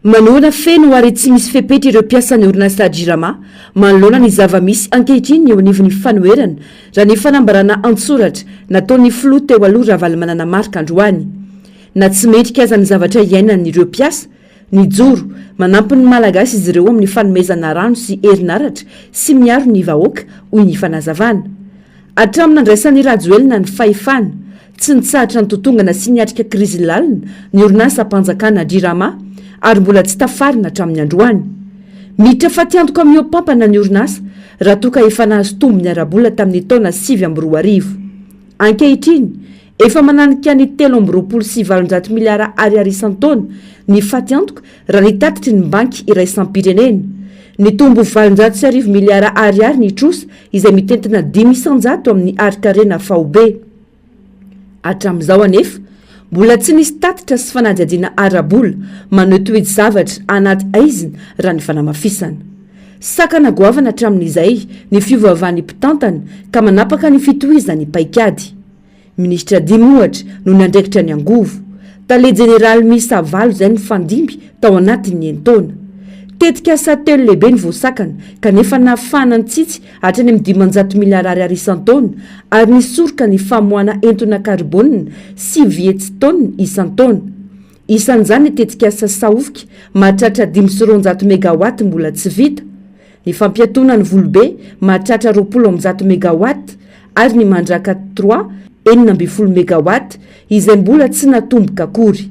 Manohana feno ary tsy misy fepetra ireo mpiasan'ny orinasa Jirama manoloana ny zava-misy ankehitriny eo anivon'ny fanoherana, raha ny fanambarana an-tsoratra nataon'ny filoha teo aloha Ravalomanana Marc androany. Na tsy mendrika aza ny zavatra iainan'ireo mpiasa, nijoro manampy ny Malagasy izy ireo amin'ny fanomezana rano sy herinaratra sy miaro ny vahoaka, hoy ny fanazavana. Hatramin'ny nandraisan'i Rajoelina ny fahefana, Tsy nitsahatra nitotongana sy niatrika krizy lalina ny orinasam-panjakana Drirama ary mbola tsy tafarina hatramin'ny androany. Miditra fatiantoka mihoa-pampana ny orinasa raha toa ka efa nahazo tombony ara-bola tamin'ny taona sivy amby roa arivo. Ankehitriny, efa mananika ny telo amby roapolo sy valonjato miliara ariary isan-taona ny fatiantoka raha ny tatitry ny Banky iraisam-pirenena. Nitombo valonjato sy arivo miliara ariary ny trosa izay mitentina dimy isan-jato amin'ny harin-karena faobe. Hatramin'izao anefa, mbola tsy nisy tatitra sy fanadihadiana ara-bola maneho toe-javatra anaty haizina raha ny fanamafisana. Sakana goavana hatramin'izay ny fiovaovan'ny mpitantana ka manapaka ny fitohizan'ny paikady. Minisitra dimy ohatra no niandraikitra ny angovo. Tale jeneraly miisa valo izay nifandimby tao anatin'ny enin-taona. Tetikasa telo lehibe no voasakana kanefa nahafahana nitsitsy hatrany amin'ny dimanjato miliara Ar isan-taona, ary ny soroka ny famoahana entona karbônina sivy hetsitôna isan-taona. Isan'izany ny tetikasa Sahofika mahatratra dimy sy roanjato megawatt mbola tsy vita, ny fampiatoana ny Volobe mahatratra roapolo amby zato megawatt ary ny Mandraka trois enina ambin'ny folo megawatt izay mbola tsy natomboka akory.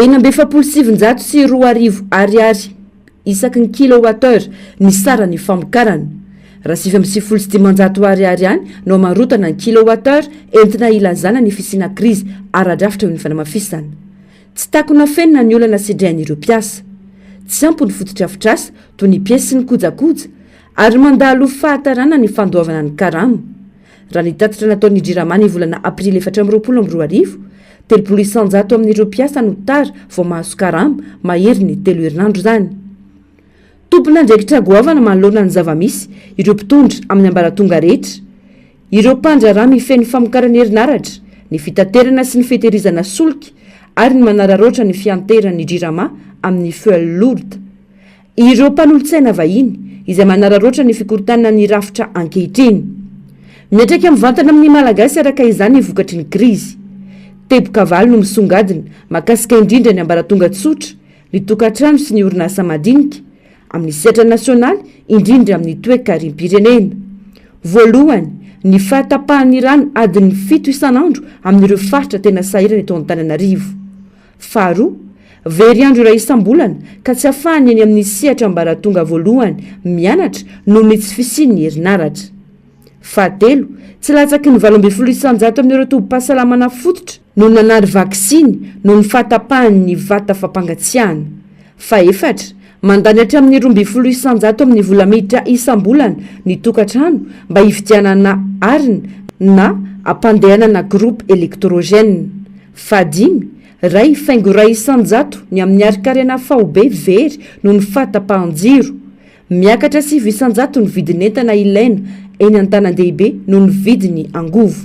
Enina amby efapolo sy sivinjato sy roa arivo Ariary isaky ny kilowattheure ny saran'ny famokarana. Raha sivy amby sivifolo sy dimanjato Ariary ihany no amarotana ny kilowattheure entina ilazana ny fisiana krizy ara-drafitra eo ny fanamafisana. Tsy takona feno na ny olana sedrehan'ireo mpiasa. Tsy ampy ny fotodrafitrasa toy ny piesy sy ny kojakoja ary mandalo fahatarana ny fandoavana ny karama. Raha ny tatitra nataon'ny Jirama ny volana aprily efatra amby roapolo amby roa arivo, telopolo isan-jato amin'ireo mpiasa no tara vao mahazo karama maherin'ny telo herinandro izany. Tompon'andraikitra goavana manoloana ny zava-misy ireo mpitondra amin'ny ambaratonga rehetra. Ireo mpandraharaha mifehy ny famokarana herinaratra, ny fitaterana sy ny fitehirizana solika ary ny manararaotra ny fianteheran'ny Jirama amin'ny Fuel Lourd. Ireo mpanolotsaina vahiny izay manararaotra ny fikorontanana ny rafitra ankehitriny. Miantraika mivantana amin'ny Malagasy araka izany ny vokatry ny krizy. Teboka valo no misongadina, mahakasika indrindra ny ambaratonga tsotra, ny tokantrano sy ny orinasa madinika, amin'ny sehatra nasionaly, indrindra amin'ny toekarim-pirenena. Voalohany, ny fahatapahan'ny rano adiny fito isan'andro amin'ireo faritra tena sahirana eto Antananarivo. Faharoa, very andro iray isam-bolana ka tsy afahan'ny eny amin'ny sehatra ambaratonga voalohany mianatra noho ny tsy fisian'ny herinaratra. Fahatelo, tsy latsaky ny valo ambin'ny folo isan-jato amin'ireo tobim-pahasalamana fototra no nanary vaksiny noho ny fahatapahan'ny vata fampangatsiahana. Fahefatra, Mandany hatramin'ny roa ambin'ny folo isan-jato amin'ny vola miditra isam-bolana ny tokantrano mba hividianana arina na hampandehanana groupe électrogène. Fahadimy, Ray faingo iray isan-jato ny amin'ny harin-karena faobe very noho ny fahatapahan-jiro. Miakatra sivy isan-jato ny vidin'entana ilaina eny an-tanan-dehibe noho ny vidin'ny angovo.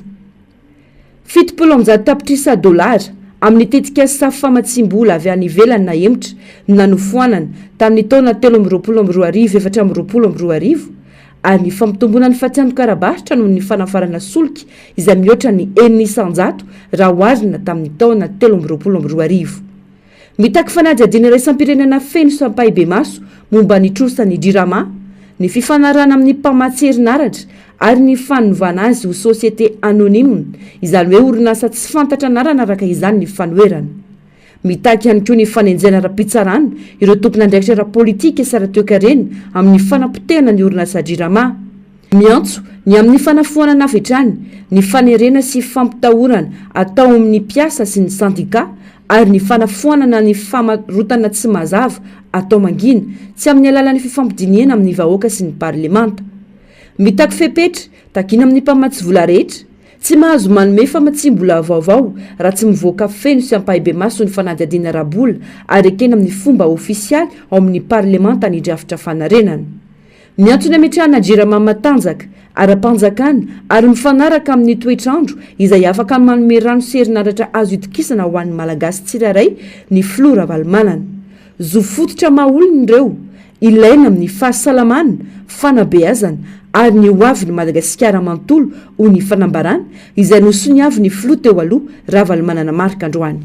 Fitopolo amby zato tapitrisa dolara, amin'ny tetikasa safo famatsiam-bola avy any ivelany nahemotra no nanofoanana tamin'ny taona telo amby roapolo amby roa arivo efatra amby roapolo amby roa arivo, ary ny fampitomboana ny fatsiandonkara-barotra noho ny fanafarana solika izay mihoatra ny enina isan-jato raha oharina tamin'ny taona telo amby roapolo amby roa arivo. Mitaky fanadihadiana iraisam-pirenena feno sy ampahibemaso momba ny trosan'ny Jirama, ny fifanarahana amin'ny mpamatsy herinaratra ary ny fanovana azy ho société anonyme, izany hoe orinasa tsy fantatra anarana araka izany ny fanoherana. Mitaky ihany koa ny fanenjehana ara-pitsarana ireo tompon'andraikitra ara-politika sy ara-toekarena amin'ny fanapotehana ny orinasa Jirama. Miantso ny amin'ny fanafoanana avy hatrany ny fanerena sy fampitahorana atao amin'ny mpiasa sy ny sendika ary ny fanafoanana ny famarotana tsy mazava atao mangina tsy amin'ny alalan'ny fifampidinihana amin'ny vahoaka sy ny parlemanta. Mitaky fepetra, takiana amin'ny mpamatsy vola rehetra, tsy mahazo manome famatsiam-bola vaovao raha tsy mivoaka feno sy ampahibemaso ny fanadihadiana ara-bola ary ekena amin'ny fomba ofisialy ao amin'ny parlemanta ny drafitra fanarenana. Miantona hametrahana Jirama matanjaka ara-panjakana ary mifanaraka amin'ny toetr'andro izay afaka manome rano sy herinaratra azo itokisana ho an'ny Malagasy tsirairay ny Filoha Ravalomanana. Zo fototra maha olona ireo, ilaina amin'ny fahasalamana, fanabeazana ary ny ho avin'i Madagasikara manontolo, hoy ny fanambarana izay nosoniavin'ny Filoha teo aloha, Ravalomanana Marc androany.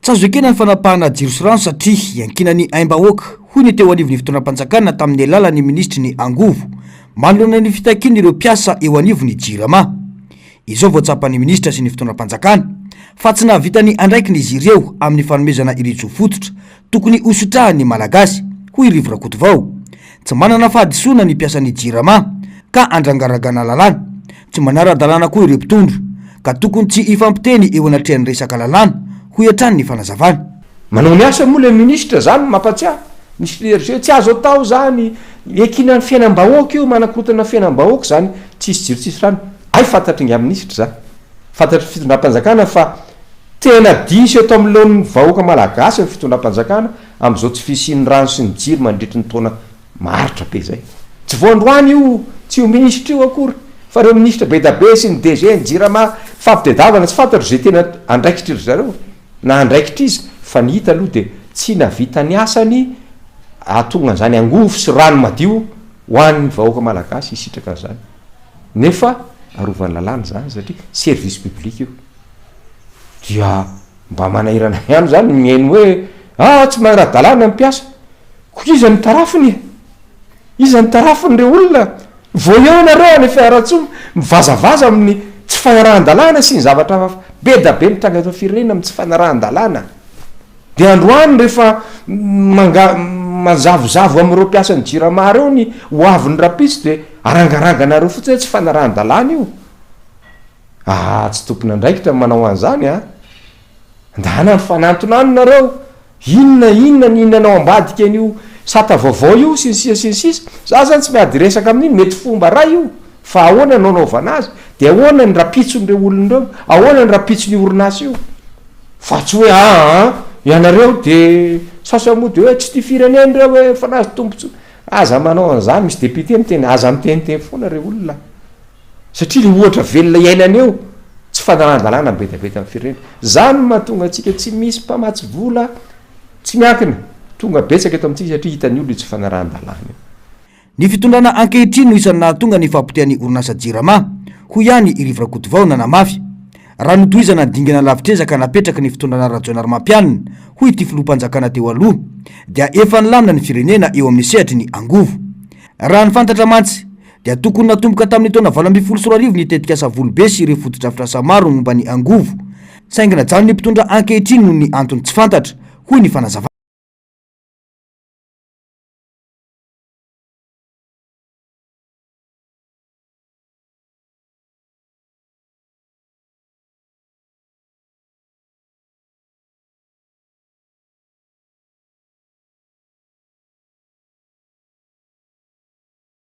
Tsy azo ekena ny fanapahana jiro sy rano satria iankinan' ny aim-bahoaka, hoy ny teo anivon'ny fitondram-panjakana tamin'ny alalan'ny minisitry ny Angovo, manoloana ny fitakian' ireo mpiasa eo anivon'ny Jirama. Izao vao tsapan'ny minisitra sy ny fitondram-panjakana fa tsy nahavita ny andraikiny izy ireo amin'ny fanomezana ireo jofototra tokony hositrahan'ny Malagasy, hoy Rivo Rakotovao. Tsy manana fahadisoana ny mpiasan'ny Jirama ka andrangaragana lalàna. Tsy manara-dalàna koa ireo mpitondra, ka tokony tsy hifampiteny eo anatrehan'ny resaka lalàna, hoy hatrany ny fanazavany. Manao ny asany moa ilay minisitra, izany no mampatsiahy ny clergé. Tsy azo atao izany, iankinan'ny fiainam-bahoaka io, manakorontana ny fiainam-bahoaka izany, tsisy jiro tsisy rano. Hay fantatry ingahy minisitra izany, fantatry ny fitondram-panjakana fa tena diso eto anoloan'ny vahoaka malagasy ny fitondram-panjakana, Amin'izao tsy fisian'ny rano sy ny jiro mandritry ny taona maharitra be izay. Tsy vao androany io tsy io minisitra io akory fa ireo minisitra bedabe sy ny DG ny jirama fampitedavana tsy fantatro izay tena andraikitry ry zareo na andraikitr'iza fa ny hita aloha dia tsy nahavita ny asany ahatonga an'izany angovo sy rano madio ho an'ny vahoaka malagasy hisitraka an'izany nefa arovan'ny lalàna izany satria service public io dia Mba manahirana ihany izany ny mihaino hoe ah tsy manara-dalàna ny mpiasa. Koa iza no tarafiny e? Iza no tarafin'ireo olona? Vao eo ianareo any Fianarantsoa mivazavaza amin'ny tsy fanarahan-dalàna sy ny zavatra hafa be da be mitranga eto amin'ny firenena amin'ny tsy fanarahan-dalàna. Dia androany rehefa manga manzavozavo amin'ireo mpiasan'ny Jirama ireo ny hoavin'ny rahampitso dia arangaranganareo fotsiny hoe tsy fanarahan-dalàna io. Aa tsy tompon'andraikitra ny manao an'izany a! Ndana mifanantona any nareo, inona inona ny inona anao ambadika an'io sata vaovao io sy ny sisa sy ny sisa, za zany tsy miady resaka amin'iny, mety fomba iray io fa ahoana no anaovana azy, de ahoana ny rapitson'ireo olona ireo, ahoana ny rapitson'io orinasa io fa tsy hoe aa ianareo de sasany moa de hoe tsy tia firenena ireo hoe efa nahazo tombotsoa, aza manao an'izany, misy député miteny aza miteniteny foana re olona a! satria le ohatra velona iainana eo tsy fanaran-dalàna mibetabeta amin'ny firenena, zany no mahatonga antsika tsy misy mpamatsy vola tsy miankina, tonga betsaka eto amintsika satria hitan'ny olona io tsy fanarahan-dalàna io. Ny fitondrana ankehitriny no isan'ny nahatonga ny fahapotehan'ny orinasa Jirama, hoy ihany i Rivo Rakotovao nanamafy. Raha notohizana ny dingana lavitr'ezaka napetraky ny fitondrana Rajaonarimampianina, hoy ity filoham-panjakana teo aloha, dia efa nilamina ny firenena eo amin'ny sehatry ny angovo. Raha ny fantatra mantsy, dia tokony natomboka tamin'ny taona valo ambin'ny folo sy roa arivo ny tetikasa Volobe sy ireo fotodrafitrasa maro momba ny angovo, saingy najanon'ny mpitondra ankehitriny noho ny antony tsy fantatra, hoy ny fanazavana.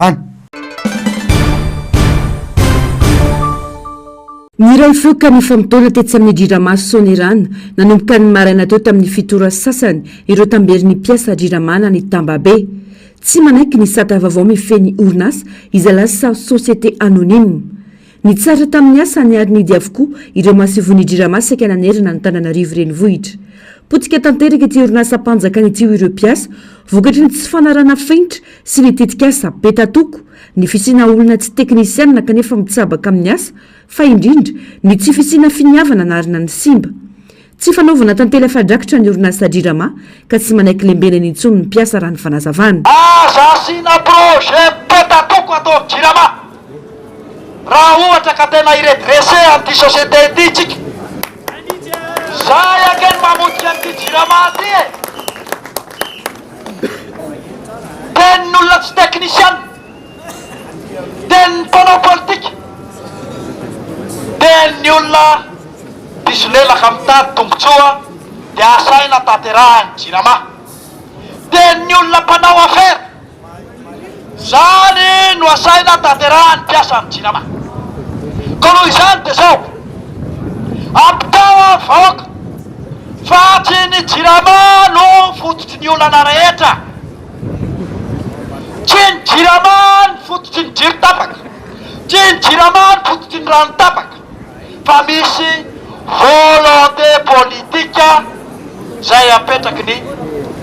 any. Niray feo ka nifamotoana tetsy amin'ny Jirama Soanierana, nanomboka ny maraina teo tamin'ny fito ora sy sasany, ireo tamberin'ny mpiasa Jirama nany Tambabe. Tsy manaiky ny sata vaovao mifehy ny orinasa izay lasa société anonyme. Nitsara tamin'ny asany ary nihidy avokoa ireo masovon'ny Jirama saika nanerana an'Antananarivo renivohitra. Potika tanteraka ity orinasam-panjakana ity hoy ireo mpiasa, vokatry ny tsy fanarahana fenitra sy ny tetikasa be tatoko, ny fisiana olona tsy teknisianina kanefa mitsabaka amin'ny asa, fa indrindra, ny tsy fisiana finiavana narina ny simba. Tsy fanaovana tantely afa-drakitra ny orinasa Jirama ka tsy manaiky lembenana intsony ny mpiasa raha ny fanazavana. Aza asiana projet petatoko ato amin'ny Jirama raha ohatra ka tena hi-redresser an'ity société ity isika. Izahay ange no mamotika an'ity Jirama ity e! Tenin'olona tsy technician. Dia ny mpanao politika dia ny olona mpisolelaka mitady tombotsoa dia asaina tanterahany jirama. Dia ny olona mpanao afera zany no asaina tanterahany mpiasa am jirama. Koa noho izany dia zao, ampitao am vahoaka fa tsy ny jirama no fototry ny olana rehetra. Tsia ny Jirama ny fototry ny jiro tapaka, tsia ny Jirama ny fototry ny rano tapaka fa misy volonté politique izay apetraky ny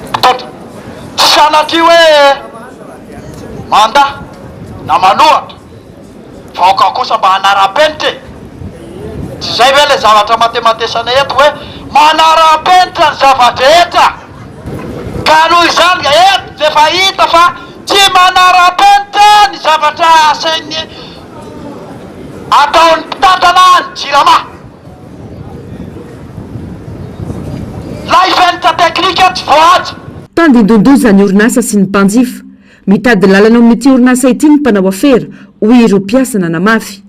mpitondra. Tsy sanatria hoe mandà na manohatra. Vaoka kosa mba hanarapenitra e! Tsy izay ve ilay zavatra matematesana eto hoe manarapenitra ny zava-drehetra? Ka noho izany dia eto dia efa hita fa tsy manarapenitra ny zavatra asain'ny ataon'ny mpitantana ny Jirama. Lay fenitra teknika tsy voahaja. Tandindondoza ny orinasa sy ny mpanjifa. Mitady lalana ao amin'ity orinasa ity ny mpanao afera, hoy ireo mpiasa nanamafy.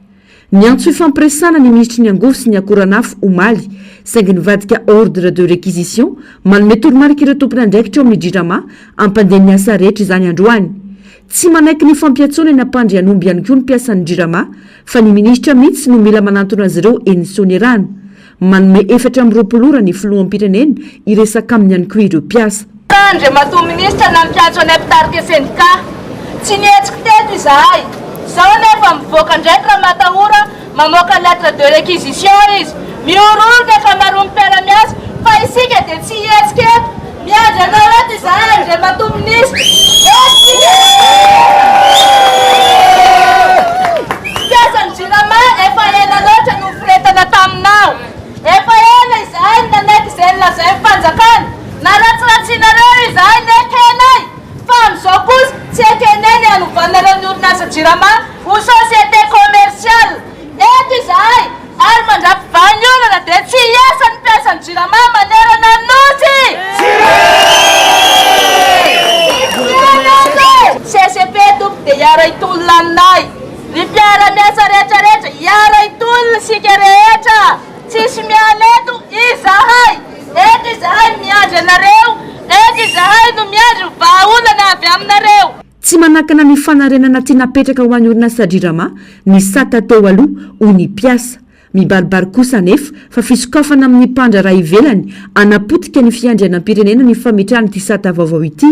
Niantso hifampiresahana ny minisitry ny angovo sy ny akoranafo omaly, saingy nivadika ordre de réquisition manome toromarika ireo tompon'andraikitra ao amin'ny Jirama hampandeha ny asa rehetra izany androany. Tsy manaiky ny fampiantsoana eny Ampandrianomby ihany koa ny mpiasan'ny Jirama fa ny minisitra mihitsy no mila manantona azy ireo eny Soanierano. Manome efatra amby roapolo ora ny filoham-pirenena hiresaka aminy ihany koa ireo mpiasa. Tara Andriamatoa Minisitra nampiantso anay mpitarika sendika. Tsy nihetsiky teto izahay. Izao anefa mivoaka ndraiky Ramatahora mamoaka lettre de réquisition izy. Mihorohoro ny ankamaroan'ny mpiara-miasa fa isika dia tsy hihetsika eto. Miandry anao eto izahay Andriamatoa Minisitra. Mpiasan'ny Jirama efa ela loatra no niforetana taminao. Efa ela izahay no nanaiky izay nolazain'ny fanjakana. Naratsiratsinareo izahay nekenay. Fa amin'izao kosa tsy ekenay ny hanovanareo ny orinasa Jirama ho société commerciale. Eto izahay ary mandrapivahy ny olana dia tsy hiasa ny mpiasan'ny Jirama manerana ny Nosy! CCP tompoko dia hiara hitolona aminay! Ry mpiara-miasa rehetra rehetra hiara hitolona isika rehetra! Tsisy miala eto! Izahay eto izahay miandry anareo! Eto izahay no miandry ny vahaolana avy aminareo! Tsy manakana ny fanarenana tsy napetraka ho an'ny orinasa Jirama ny sata teo aloha, hoy ny mpiasa. Mibaribary kosa anefa fa fisokafana amin'ny mpandraharaha ivelany hanapotika ny fiandrianam-pirenena ny fametrahana ity sata vaovao ity.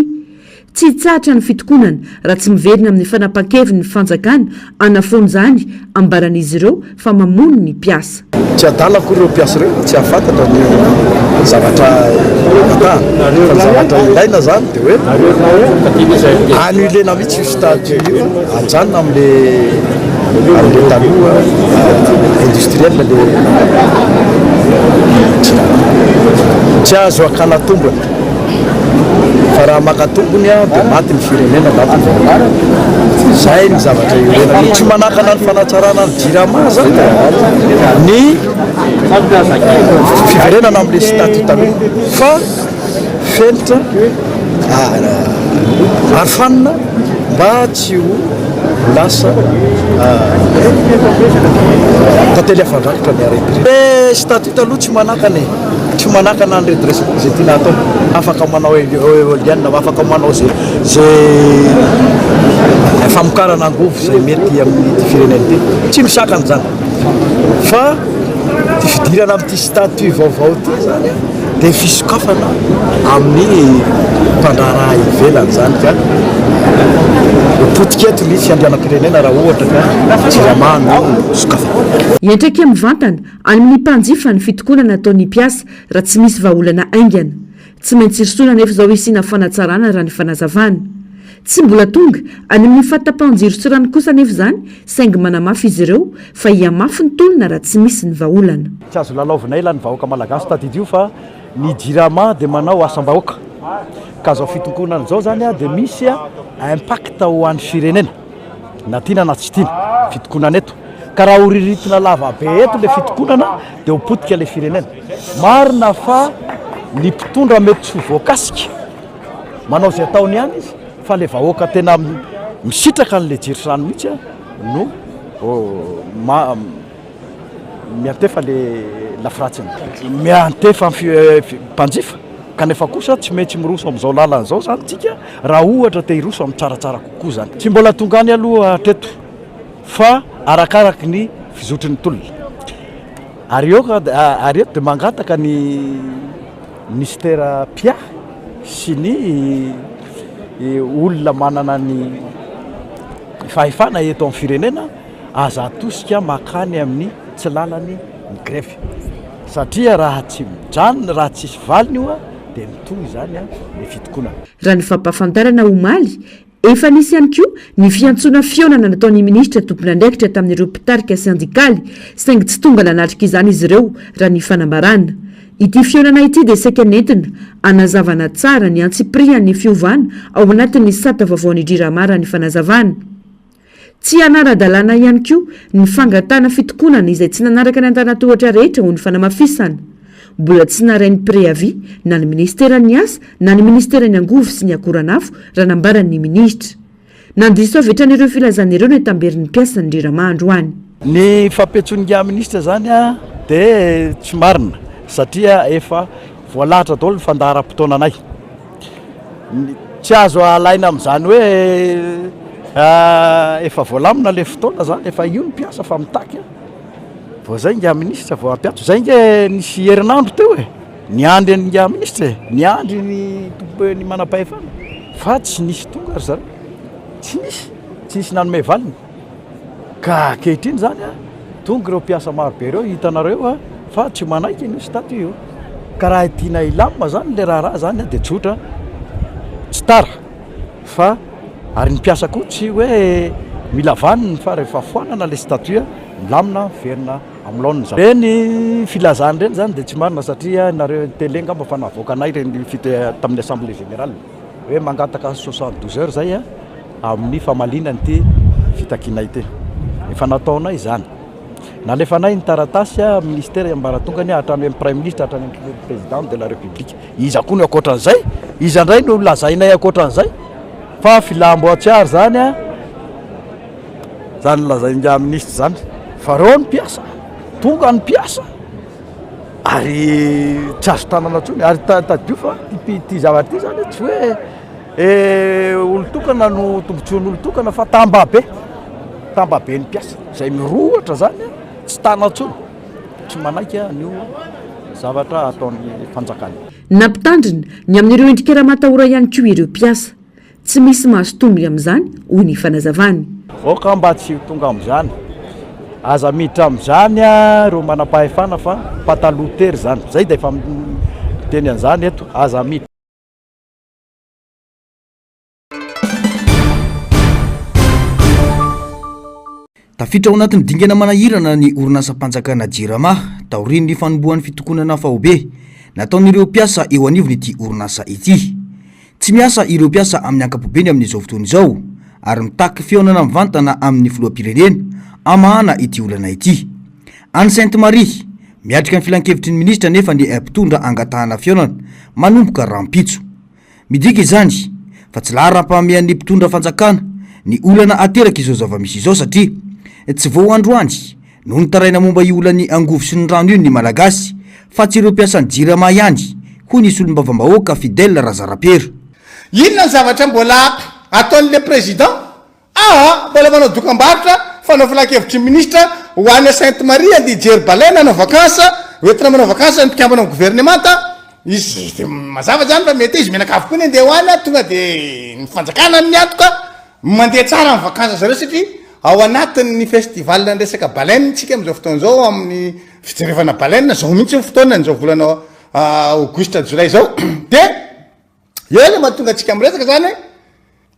Tsy hitsahatra ny fitokonana raha tsy miverina amin'ny fanapahan-keviny ny fanjakana hanafoana izany, ambaran'izy ireo. fa mamono ny mpiasa. Tsy adala akory ireo mpiasa ireo, tsy hahafantatra ny zavatra vatahana, fa ny zavatra ilaina izany dia hoe annuler-na mihitsy io stage io, ajanona amin'ilay amin'ilay taloha industriel ilay tsy azo hakana tombony. Fa raha maka tompony dia maty ny firenena, maty ny vahoaka. Izay ny zavatra iorenany. Ny tsy manakana ny fanatsarana ny Jirama izany dia maty ny fiverenana amin'ilay statut taloha. Fa fenitra ary fanina mba tsy ho lasa tantely afa-drakotra ny harem-pirenena. Ilay statut taloha tsy manakana e! tsy manakana ny redressement izay tiana hatao, afaka manao eolienne, afaka manao izay izay famokarana angovo izay mety amin'ity firenena ity, tsy misakana izany fa ity fidirana amin'ity statut vaovao ity izany dia fisokafana amin'ny mpandraharaha ivelany izany ka potika eto ny fiandrianam-pirenena raha ohatra ka jirama no sokafana. Hiantraika mivantana. Any amin'ny mpanjifa ny fitokonana ataon'ny mpiasa raha tsy misy vahaolana haingana. Tsy maintsy irosoana anefa izao hisiana fanatsarana raha ny fanazavana. Tsy mbola tonga any amin'ny fahatapahan-jiro sy rano kosa anefa izany saingy manamafy izy ireo fa hihamafy ny tolona raha tsy misy ny vahaolana. Tsy azo lalaovina ela ny vahoaka malagasy. Tadidio fa ny Jirama dia manao asam-bahoaka ka izao fitokonana izao izany dia misy impact ho an'ny firenena. na tiana na tsy tiana fitokonana eto ka raha ho riritina lava be eto le fitokonana dia ho potika le firenena marina fa ny mpitondra mety tsy ho voakasika manao izay ataony ihany izy fa le vahoaka tena misitraka an'le jirosano mihitsy no oh, ma, Miantefa le lafiratsiny. Miantefa mpanjifa kanefa kosa tsy maintsy miroso amin'izao lalana izao izany isika raha ohatra te hiroso amin'ny tsaratsara kokoa izany. Tsy mbola tonga any aloha hatreto fa arakaraky ny fizotry ny tolona. Ary eo ary eto dia mangataka ny Minisitera mpiahy sy ny olona manana ny fahefana eto amin'ny firenena, aza atosika makany amin'ny tsy lalany ny grefy satria raha tsy mijanona raha tsisy valiny io dia mitohy izany ny fitokonana. Raha ny fampahafantarana omaly, efa nisy ihany koa ny fiantsoana fihaonana nataon'ny minisitra tompon'andraikitra tamin'ireo mpitarika sendikaly saingy tsy tonga nanatrika izany izy ireo raha ny fanambarana. Ity fihaonana ity dia saika nentina hanazavana tsara ny antsipirihan'ny fiovana ao anatin'ny sata vaovaon'I Drirama raha ny fanazavana. Tsy hanara-dalàna ihany koa ny fangatahana fitokonana izay tsy nanaraka ny antanan-tohatra rehetra ho ny fanamafisana. Mbola tsy narahin'ny préavis na ny minisiteran'ny Asa na ny minisiteran'ny Angovo sy ny Akoranafo raha nambaran'ny minisitra. Nandiso avy hatrany ireo filazana ireo ny Antamberin'ny mpiasa ny Jirama androany. Ny fampiantsoan'ingahy minisitra izany dia tsy marina satria efa voalahatra daholo ny fandaharam-potoananay. Tsy azo alaina amin'izany hoe efa voalamina ilay fotoana izany, efa io ny mpiasa fa mitaky an! vao izay ingahy minisitra vao hampiantso, izay ange nisy herinandro teo e! niandry an'i ingahy minisitra e! niandry ny tompom-pe, ny manam-pahefana fa tsy nisy tonga ry zareo, tsy nisy, tsy nisy nanome valiny. Ka ankehitriny izany tonga ireo mpiasa maro be ireo, hitanareo fa tsy manaiky an'io statut io. Ka raha tiana hilamina izany ilay raharaha izany dia tsotra, tsy tara fa ary ny mpiasa koa tsy hoe mila vaniny fa rehefa foanana ilay statut, milamina, miverina amin'ny laoniny izany. Ireny filazana ireny izany dia tsy marina satria ianareo tele angamba efa navoakanay ireny tamin'ny assemblée générale. hoe mangataka soixante douze heures zay amin'ny famaliana an'ity fitakiana ity. Efa nataonay izany. Nalefanay ny taratasy amin'ny ministera iambaratongany hatrany amin'ny praiminisitra hatrany amin'ny président de la république. Iza koa no ankoatran'izay? Iza indray no lazainay ankoatran'izay? Fa filam-boatsiary izany a! Izany lazain'ingahy ministra izany. Fa reo ny mpiasa, tonga ny mpiasa. Ary tsy azo tanana intsony. Ary tadidio fa ity zavatra ity izany tsy hoe olon-tokana no tombontsoan'olon-tokana fa tambabe, tambaben'ny mpiasa izay mirohotra izany tsy tana intsony, tsy manaiky an'io zavatra ataon'ny fanjakana io. Nampitandrina ny amin'ireo endrikera matahora ihany koa ireo mpiasa. Tsy misy mahazo tombony amin'izany, hoy ny fanazavany. Aoka mba tsy ho tonga amin'izany. Aza miditra amin'izany ireo manam-pahefana fa pataloha tery izany. Izay dia efa miteny an'izany eto, aza miditra. Tafiditra ao anatin'ny dingana manahirana ny orinasam-panjakana Jirama, taorian'ny fanombohan'ny fitokonana faobe, nataon'ireo mpiasa eo anivon'ity orinasa ity. Tsy miasa ireo mpiasa amin'ny ankapobeny amin'izao fotoana izao, ary mitaky fihaonana mivantana amin'ny filoham-pirenena, hamahana ity olana ity. Any Sainte Marie, miatrika ny filankevitry ny minisitra anefa ny mpitondra angatahana fihaonana, manomboka rahampitso. Midika izany fa tsy laharam-pahamehan'ny mpitondra fanjakana ny olana aterak'izao zava-misy izao satria tsy vao androany no nitaraina momba io olan'ny angovo sy ny rano io ny Malagasy fa tsy ireo mpiasan'ny Jirama ihany, hoy ny solombavambahoaka Fidèle Razarapiera. Inona ny zavatra mbola ataon'ilay Président? Aa, mbola manao dokambarotra, fanao filankevitry ny minisitra ho any à Sainte Marie andeha hijery baleine hanao vacances, ho entina manao vacances ny mpikambana amin'ny governemanta, izy dia mazava izany fa mety izy mianakavy koa ny handeha ho any an, tonga dia ny fanjakana no miantoka, mandeha tsara amin'ny vacances zareo satria ao anatin'ny festival ny resaka baleine isika amin'izao fotoana izao amin'ny fijerevana baleine, izao mihitsy ny fotoanany izao volana aogositra jolay izao dia Eo le mahatonga antsika miresaka zany hoe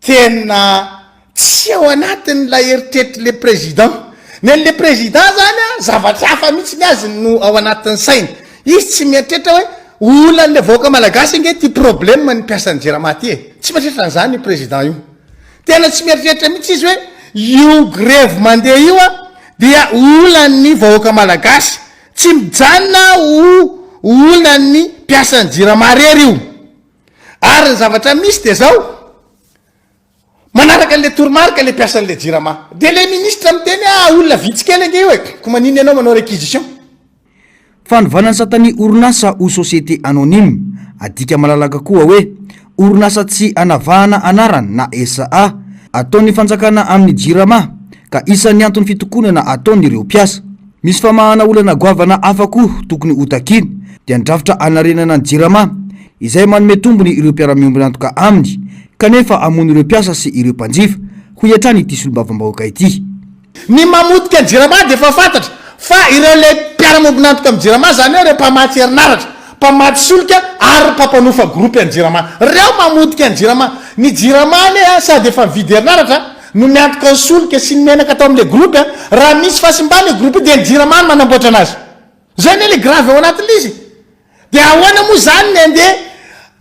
tena tsy ao anatin'ilay eritreritrin'le président. Ny an'le président zany a, zavatra hafa mihitsy ny azy no ao anatin'ny sainy. Izy tsy mieritreritra hoe olan'le vahoaka malagasy ange ity problème ny mpiasan'ny Jirama ty e. Tsy mieritreritra an'zany io président io. Tena tsy mieritreritra mihitsy izy hoe io grevy mandeha io a dia olan'ny vahoaka malagasy. Tsy mijanona ho olonan'ny mpiasan'ny Jirama irery io. Ary ny zavatra misy dia izao, manaraka an'ilay toromarika ilay mpiasan'ilay Jirama. Dia ilay minisitra miteny ah, olona vitsy kely ange io e! Koa maninona ianao manao réquisition? Fanovana ny satan'ny orinasa ho société anonyme, adika malalaka koa hoe orinasa tsy anavahana anarana na SA, ataon'ny fanjakana amin'ny Jirama, ka isan'ny anton'ny fitokonana ataon'ireo mpiasa. Misy famahana olana goavana hafa koa tokony hotakina, dia ny drafitra hanarenana ny Jirama, izay manome tombony ireo mpiara-miombon'antoka aminy, kanefa hamono ireo mpiasa sy ireo mpanjifa, hoy hatrany ity solombavambahoaka ity. Ny mamotika ny Jirama dia efa fantatra, fa ireo ilay mpiara-miombon'antoka amin'ny Jirama, izany hoe ireo mpamatsy herinaratra, mpamatsy solika ary mpampanofa gropy an'ny Jirama. Ireo mamotika ny Jirama. Ny Jirama anie sady efa mividy herinaratra, no miantoka ny solika sy ny menaka tao amin'ilay groupe a! raha misy fahasimba ilay groupe io dia ny jirama no manamboatra anazy! izay anie ilay grave ao anatin'ilay izy e! dia ahoana moa izany ny handeha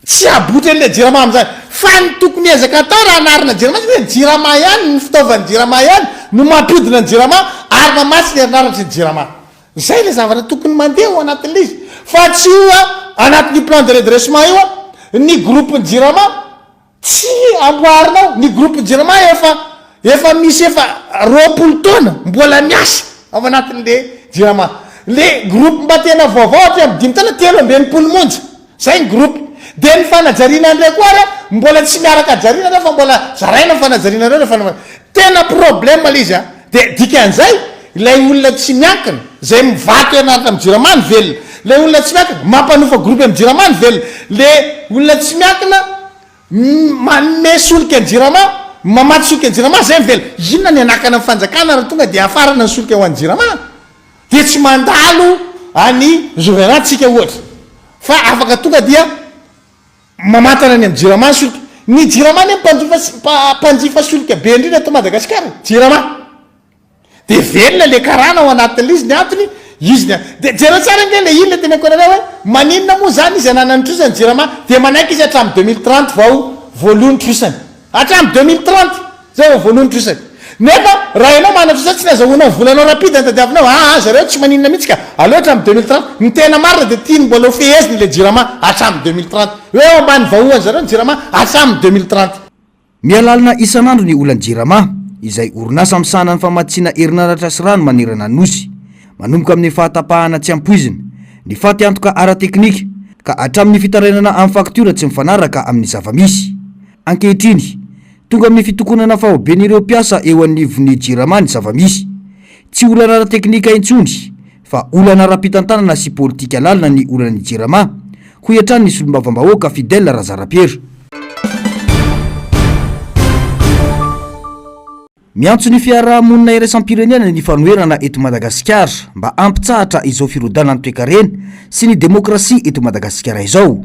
tsy habotra an'ilay jirama amin'izany? fa ny tokony ezaka atao raha hanarina jirama izy hoe ny jirama ihany, ny fitaovan'ny jirama ihany no mampiodina ny jirama ary mamatsy ny herinaratry ny jirama! izay ilay zavatra tokony mandeha ao anatin'ilay izy fa tsy io a! anatin'io plan de redressement io a! ny groupe-ny jirama Tsy amboarinao ny groupe jirama efa efa misy efa roapolo taona mbola miasa ao anatiny le jirama le groupe mba tena vaovao hatry am dimy taona telo amby enimpolo monja zay ny groupe de ny fanajariana ndray koa ary mbola tsy miaraka ajariana ndray fa mbola zaraina ny fanajariana ndray refa tena problème le izy a. Dia dikan'izay, ilay olona tsy miankina, izay mivaky herinaratra amin'ny Jirama no velona. Ilay olona tsy miankina, mampanofa gropy amin'ny Jirama no velona. Ilay olona tsy miankina, manome solika ny Jirama, mamatsy solika ny Jirama, izay no velona. Inona ny hanakana ny fanjakana raha tonga dia hafarana ny solika ho an'ny Jirama? Dia tsy mandalo an'i Zoviana-tsika ohatra, fa afaka tonga dia. Mamantana ny amin'ny Jirama solika. Ny Jirama anie mpanjifa mpanjifa solika be indrindra eto Madagasikara e. Jirama. Dia velona ilay karana ao anatin'ilay izy, ny antony, izy ny antony. Dia jereo tsara ange ilay iny, ilay teny an-koerana hoe maninona moa izany izy hananany trosa ny Jirama, dia manaiky izy hatramin'ny deux mille trente vao voaloa ny trosany. Hatramin'ny deux mille trente, zay vao voalohan'ny trosa. Nefa raha ianao manana trosa tsy nazahoanao ny volanao rapide no tadiavinao, aa zareo tsy maninona mihitsy ka, aleo hatramin'ny deux mille trente. Ny tena marina dia tiany mbola ho feheziny ilay jirama hatramin'ny deux mille trente. Hoe eo ambany vahohany zareo ny jirama hatramin'ny deux mille trente. Mihalalina isan'andro ny olan'ny Jirama, izay orinasa misahana ny famatsiana herinaratra sy rano manerana ny Nosy. manomboka amin'ny fahatapahana tsy ampoizina ny faty antoka ara-teknika ka hatramin'ny fitarainana amin'ny faktiora tsy mifanaraka amin'ny zava-misy. Ankehitriny, tonga amin'ny fitokonana faoben'ireo mpiasa eo anivon'ny Jirama ny zava-misy. Tsy olana ara-teknika intsony fa olana ara-pitantanana sy politika lalina ny olan'ny Jirama, hoy hatrany ny solombavambahoaka Fidèle Razarapiera. Miantso ny fiarahamonina iraisam-pirenena ny fanoherana eto Madagasikara mba hampitsahatra izao firodanan'ny toekarena sy ny demokrasia eto Madagasikara izao.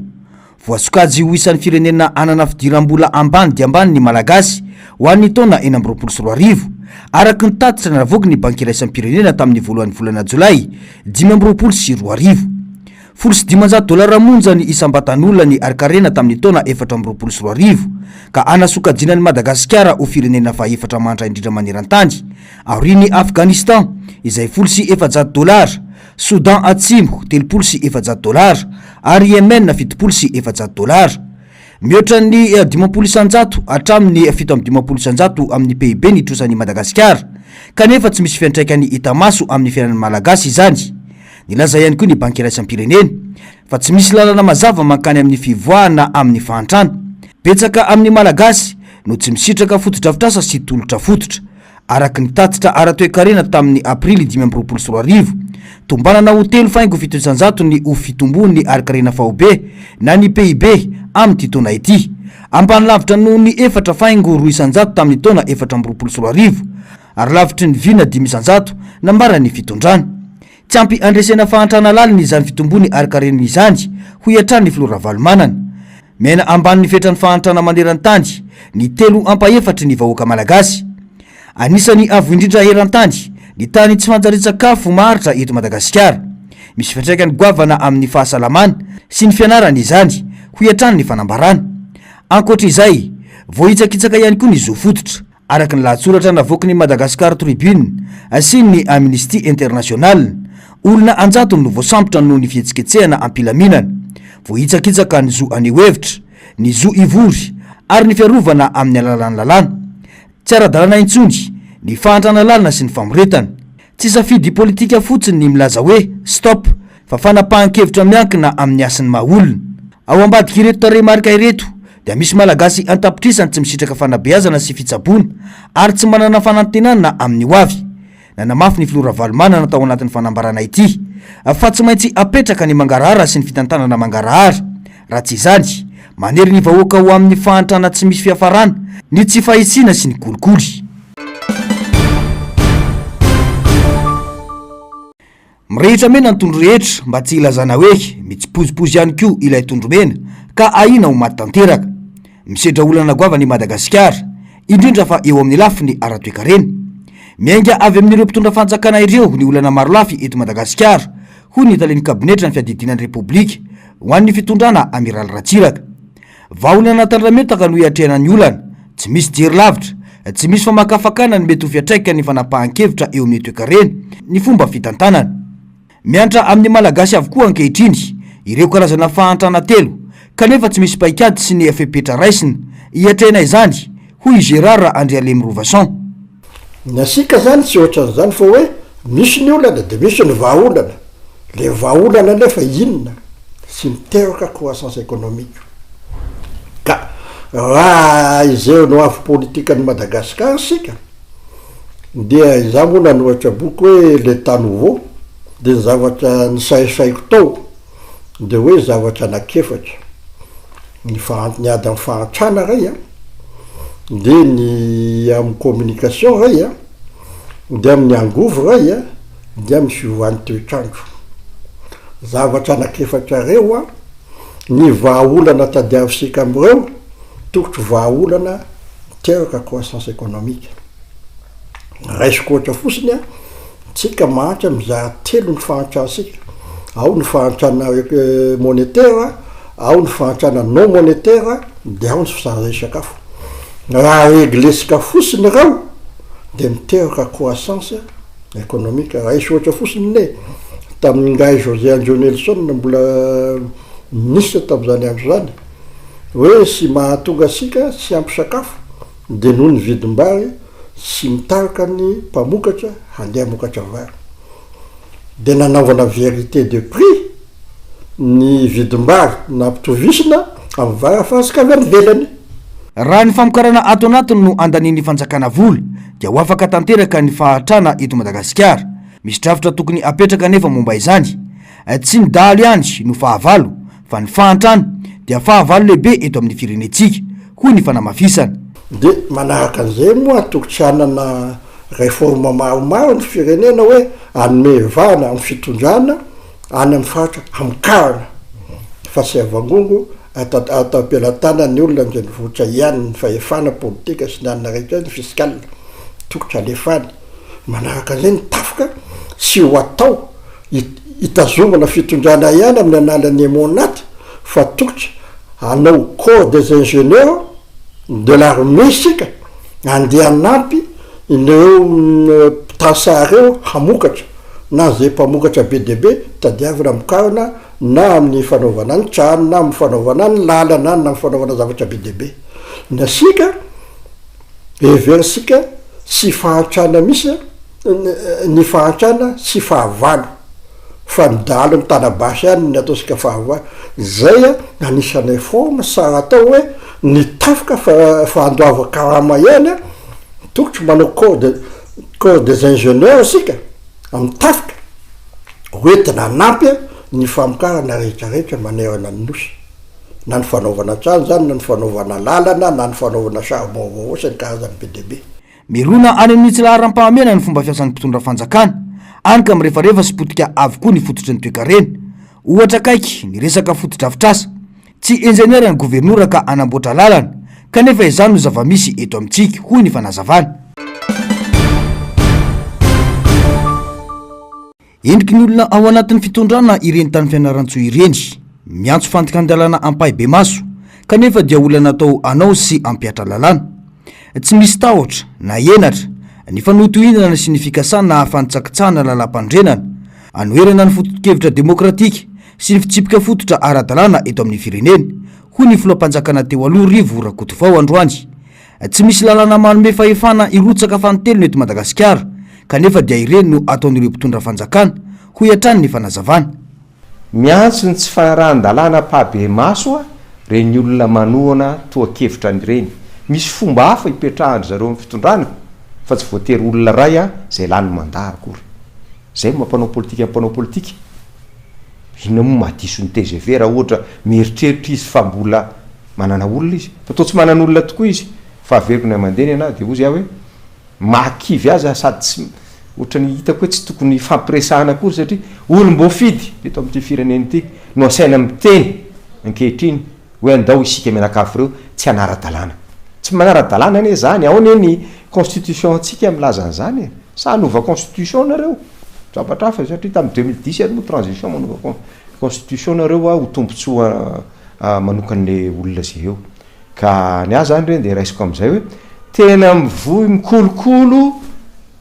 Voasokajy ho isan'ny firenena hanana fidiram-bola ambany dia ambany ny Malagasy ho an'ny taona enina amby roapolo sy roa arivo, araka ny tatitra navoaky ny Banky iraisam-pirenena tamin'ny voalohan'ny volana Jolay dimy amby roapolo sy roa arivo. Folo sy dimanjato dolara monja ny isam-batan'olona ny harin-karena tamin'ny taona efatra amby roapolo sy roa arivo, ka hanasokajiana an'i Madagasikara ho firenena fahefatra mantra indrindra maneran-tany, aorian'i Afghanistan, izay folo sy efajato dolara, Soudan Atsimo, telopolo sy efajato dolara, ary Yemen, fitopolo sy efajato dolara. Mihoatra ny dimampolo isan-jato hatramin'ny fito amby dimampolo isan-jato amin'ny PIB ny trosan'i Madagasikara, kanefa tsy misy fiantraikany hita maso amin'ny fiainan'ny Malagasy izany. Nilaza ihany koa ny Banky Iraisam-pirenena fa tsy misy lalana mazava mankany amin'ny fivoahana amin'ny fahantrana. Betsaka amin'ny Malagasy no tsy misitraka fotodrafitrasa sy tolotra fototra. Araka ny tatitra ara-toekarena tamin'ny Aprily dimy amby roapolo sy roa arivo, tombanana ho telo faingo fito isanjato ny ho fitomboan'ny harinkarena faobe na ny PIB amin'ity taona ity, ambany lavitra noho ny efatra faingo roa isanjato tamin'ny taona efatra amby roapolo sy roa arivo. ary lavitry ny vy na dimy isan-jato, nambaran' ny fitondrana. Tsy ampy handresena fahantrana lalina izany fitomboany harin-karena izany, hoy hatrany ny filoha Ravalomanana. Miaina ambany ny fetran'ny fahantrana maneran-tany ny telo ampahefatry ny vahoaka malagasy. Anisany avo indrindra eran-tany ny tany tsy fanjarian-tsakafo maharitra eto Madagasikara. Misy fiantraikany goavana amin'ny fahasalamana sy ny fianarana izany, hoy hatrany ny fanambarana. Ankoatra izay, voahitsakitsaka ihany koa ny zo fototra. Araka ny lahatsoratra navoaky ny Madagascar Tribune sy ny Amnistie International, olona an-jatony no voasambotra noho ny fihetsiketsehana am-pilaminana. Voahitsakitsaka ny zo haneho hevitra, ny zo hivory ary ny fiarovana amin'ny alalan'ny lalàna. Tsy ara-dalàna intsony ny fahantrana lalina sy ny famoretana. Tsy safidy politika fotsiny ny milaza hoe stop fa fanapahan-kevitra miankina amin'ny hasin'ny maha olona. Ao ambadik'ireto tarehimarika ireto dia misy Malagasy an-tapitrisany tsy misitraka fanabeazana sy fitsaboana ary tsy manana fanantenana amin'ny ho avy. Nanamafy ny Filoha Ravalomanana tao anatin'ny fanambarana ity fa tsy maintsy apetraka ny mangarahara sy ny fitantanana mangarahara. Raha tsy izany, manery ny vahoaka ho amin'ny fahantrana tsy misy fiafarana, ny tsy fahisiana sy ny kolikoly. Mirehitra mena ny tondro rehetra mba tsy hilazana hoe mitsipozipozy ihany koa ilay tondro mena ka ahiana ho maty tanteraka. Misedra olana goavana i Madagasikara, indrindra fa eo amin'ny lafiny ara-toekarena. Miainga avy amin'ireo mpitondra fanjakana ireo ny olana marolafy eto Madagasikara, hoy ny talen'ny kabinetran'ny fiadidiana ny Repoblika, Ho an'ny fitondrana Amiraly Ratsiraka. Vahaolana tandrametaka no hiatrehana ny olana. Tsy misy jery lavitra. Tsy misy famakafakana ny mety ho fiantraikan'ny fanapahan-kevitra eo amin'ny toekarena, ny fomba fitantanana. Miantra amin'ny Malagasy avokoa ankehitriny ireo karazana fahantrana telo, kanefa tsy misy paikady sy ny fepetra raisina hiatrehana izany, hoy i Gérard Andrialemirovason. Ny antsika izany tsy ohatran'izany fa hoe misy ny olana dia misy ny vahaolana. Ilay vahaolana anefa inona? Tsy miteraka croissance économique. Ka raha izay no avo politikan'i Madagasikara isika dia izaho moa nanoratra boky hoe L'Etat nouveau dia ny zavatra nisarisariko tao, dia hoe zavatra anak'efatra, ny faha, ny ady amin'ny fahantrana iray an, dia ny amin'ny communication iray an, dia amin'ny angovo iray an, dia amin'ny fiovan'ny toetr'andro. Zavatra anak'efatra ireo an, ny vahaolana tadiavisika amin'ireo tokotry vahaolana miteraka croissance économique. Raisiko ohatra fotsiny an. Tsika mahantra mizaha telo ny fahantrantsika, ao ny fahantrana monetera, ao ny fahantrana non monetera dia ao ny fizarana isakafo. Raha reglesika fotsiny ireo dia miteraka croissance economique. Raha hisy ohatra fotsiny ne, tamin'ny ngahy José Andreo Nelson mbola ministre tamin'izany andro izany, hoe tsy mahatonga antsika tsy ampy sakafo, Dia noho ny vidim-bary tsy mitarika ny mpamokatra handeha hamokatra vary dia nanaovana vérité de prix ny vidim-bary nampitovisina amin'ny vary afaritsika avy any ivelany. Raha ny famokarana ato anatiny no andanian'ny fanjakana vola dia ho afaka tanteraka ny fahantrana eto Madagasikara. Misy drafitra tokony hapetraka anefa momba izany. Tsy ny dahalo ihany no fahavalo fa ny fahantrana dia fahavalo lehibe eto amin'ny firenentsika, hoy ny fanamafisana. Dia manaraka an'izay moa antoko tsy hanana réforme maromaro ny firenena hoe hanome vahana amin'ny fitondrana any amin'ny faritra hamokarana fa tsy havangongo ato am-pelatanan'ny olona an-drenivohitra ihany ny fahefana politika sy ny anona rehetra ny fiscal tokony halefany Manaraka an'izay ny tafika tsy ho atao hitazomana fitondrana ihany amin'ny alalan'ny MONAT fa tokony hanao corps des ingénieurs de l'armée isika handeha hanampy ireo mpitasa ireo hamokatra na izay mpamokatra be dia be tadiavina hamokarana na amin'ny fanaovana ny trano na amin'ny fanaovana ny lalana na amin'ny fanaovana zavatra be dia be ny asika Heverisika tsy fahantrana misy ny fahantrana sy fahavalo fa ny dahalo ny tana basy ihany ny ataontsika fahavalo. Izay no anisanay forme sa atao hoe ny tafika fa fandoavan karama ihany tokotro manao corps corps des ingenieurs isika amin'ny tafika hoentina hanampy ny famokarana rehetra rehetra manerana ny nosy. na ny fanaovana trano izany na ny fanaovana lalana na ny fanaovana charbon vaovao sy ny karazany be dia be. Mirona any amin'ny tsy laharam-pahamehana ny fomba fiasan'ny mpitondra fanjakana, any ka mirefarefa sy potika avokoa ny fototry ny toekarena. Ohatra akaiky ny resaka fotodrafitrasa. Tsy injeniera ny governora ka hanamboatra lalana, kanefa izany no zava-misy eto amintsika, hoy ny fanazavana. Endriky ny olona ao anatin'ny fitondrana ireny tany Fianarantsoa ireny. Miantso fandikan-dalàna ampahibemaso, kanefa dia olona natao hanao sy hampiatra lalàna. Tsy misy tahotra, na henatra, ny fanohitohinana sy ny fikasana hahafantsakitsahana lalàmpanorenana, hanoherana ny fototokevitra demokratika sy ny fitsipika fototra ara-dalàna eto amin'ny firenena, hoy ny filoham-panjakana teo aloha Rivo Rakotovao androany. Tsy misy lalana manome fahefana hirotsaka fanintelony eto Madagasikara, kanefa dia ireny no ataon'ireo mpitondra fanjakana, hoy hatrany ny fanazavana. Miantso ny tsy fanarahan-dalàna ampahabe-maso ireny olona manohana tohan-kevitra ireny. Misy fomba hafa hipetrahan-dry zareo amin'ny fitondrana fa tsy voatery olona iray izay lany mandà akory. Zay no maha mpanao politika ny mpanao politika. Inona moa maha diso ny tgv raha ohatra mieritreritra izy fa mbola manana olona izy. Fa toa tsy manana olona tokoa izy fa averiko ny aman-deny ana dia hozy aho hoe maha kivy azy aho sady tsy ohatrany hitako hoe tsy tokony hifampiresahana akory satria olom-boafidy eto amin'ity firenena ity no asaina miteny ankehitriny hoe andao isika mianakavy ireo tsy hanara-dalàna. Tsy manara-dalàna anie izany, ao anie ny constitution-ntsika milaza an'izany e! Sa hanova constitution nareo? Zavatra hafa izay satria tamin'ny deux mille dix ary moa transition manova con- constitution nareo hoa ho tombontsoa manokan'ny olona izay eo. Ka ny ahy izany re dia raisiko amin'izay hoe tena mivoy mikolokolo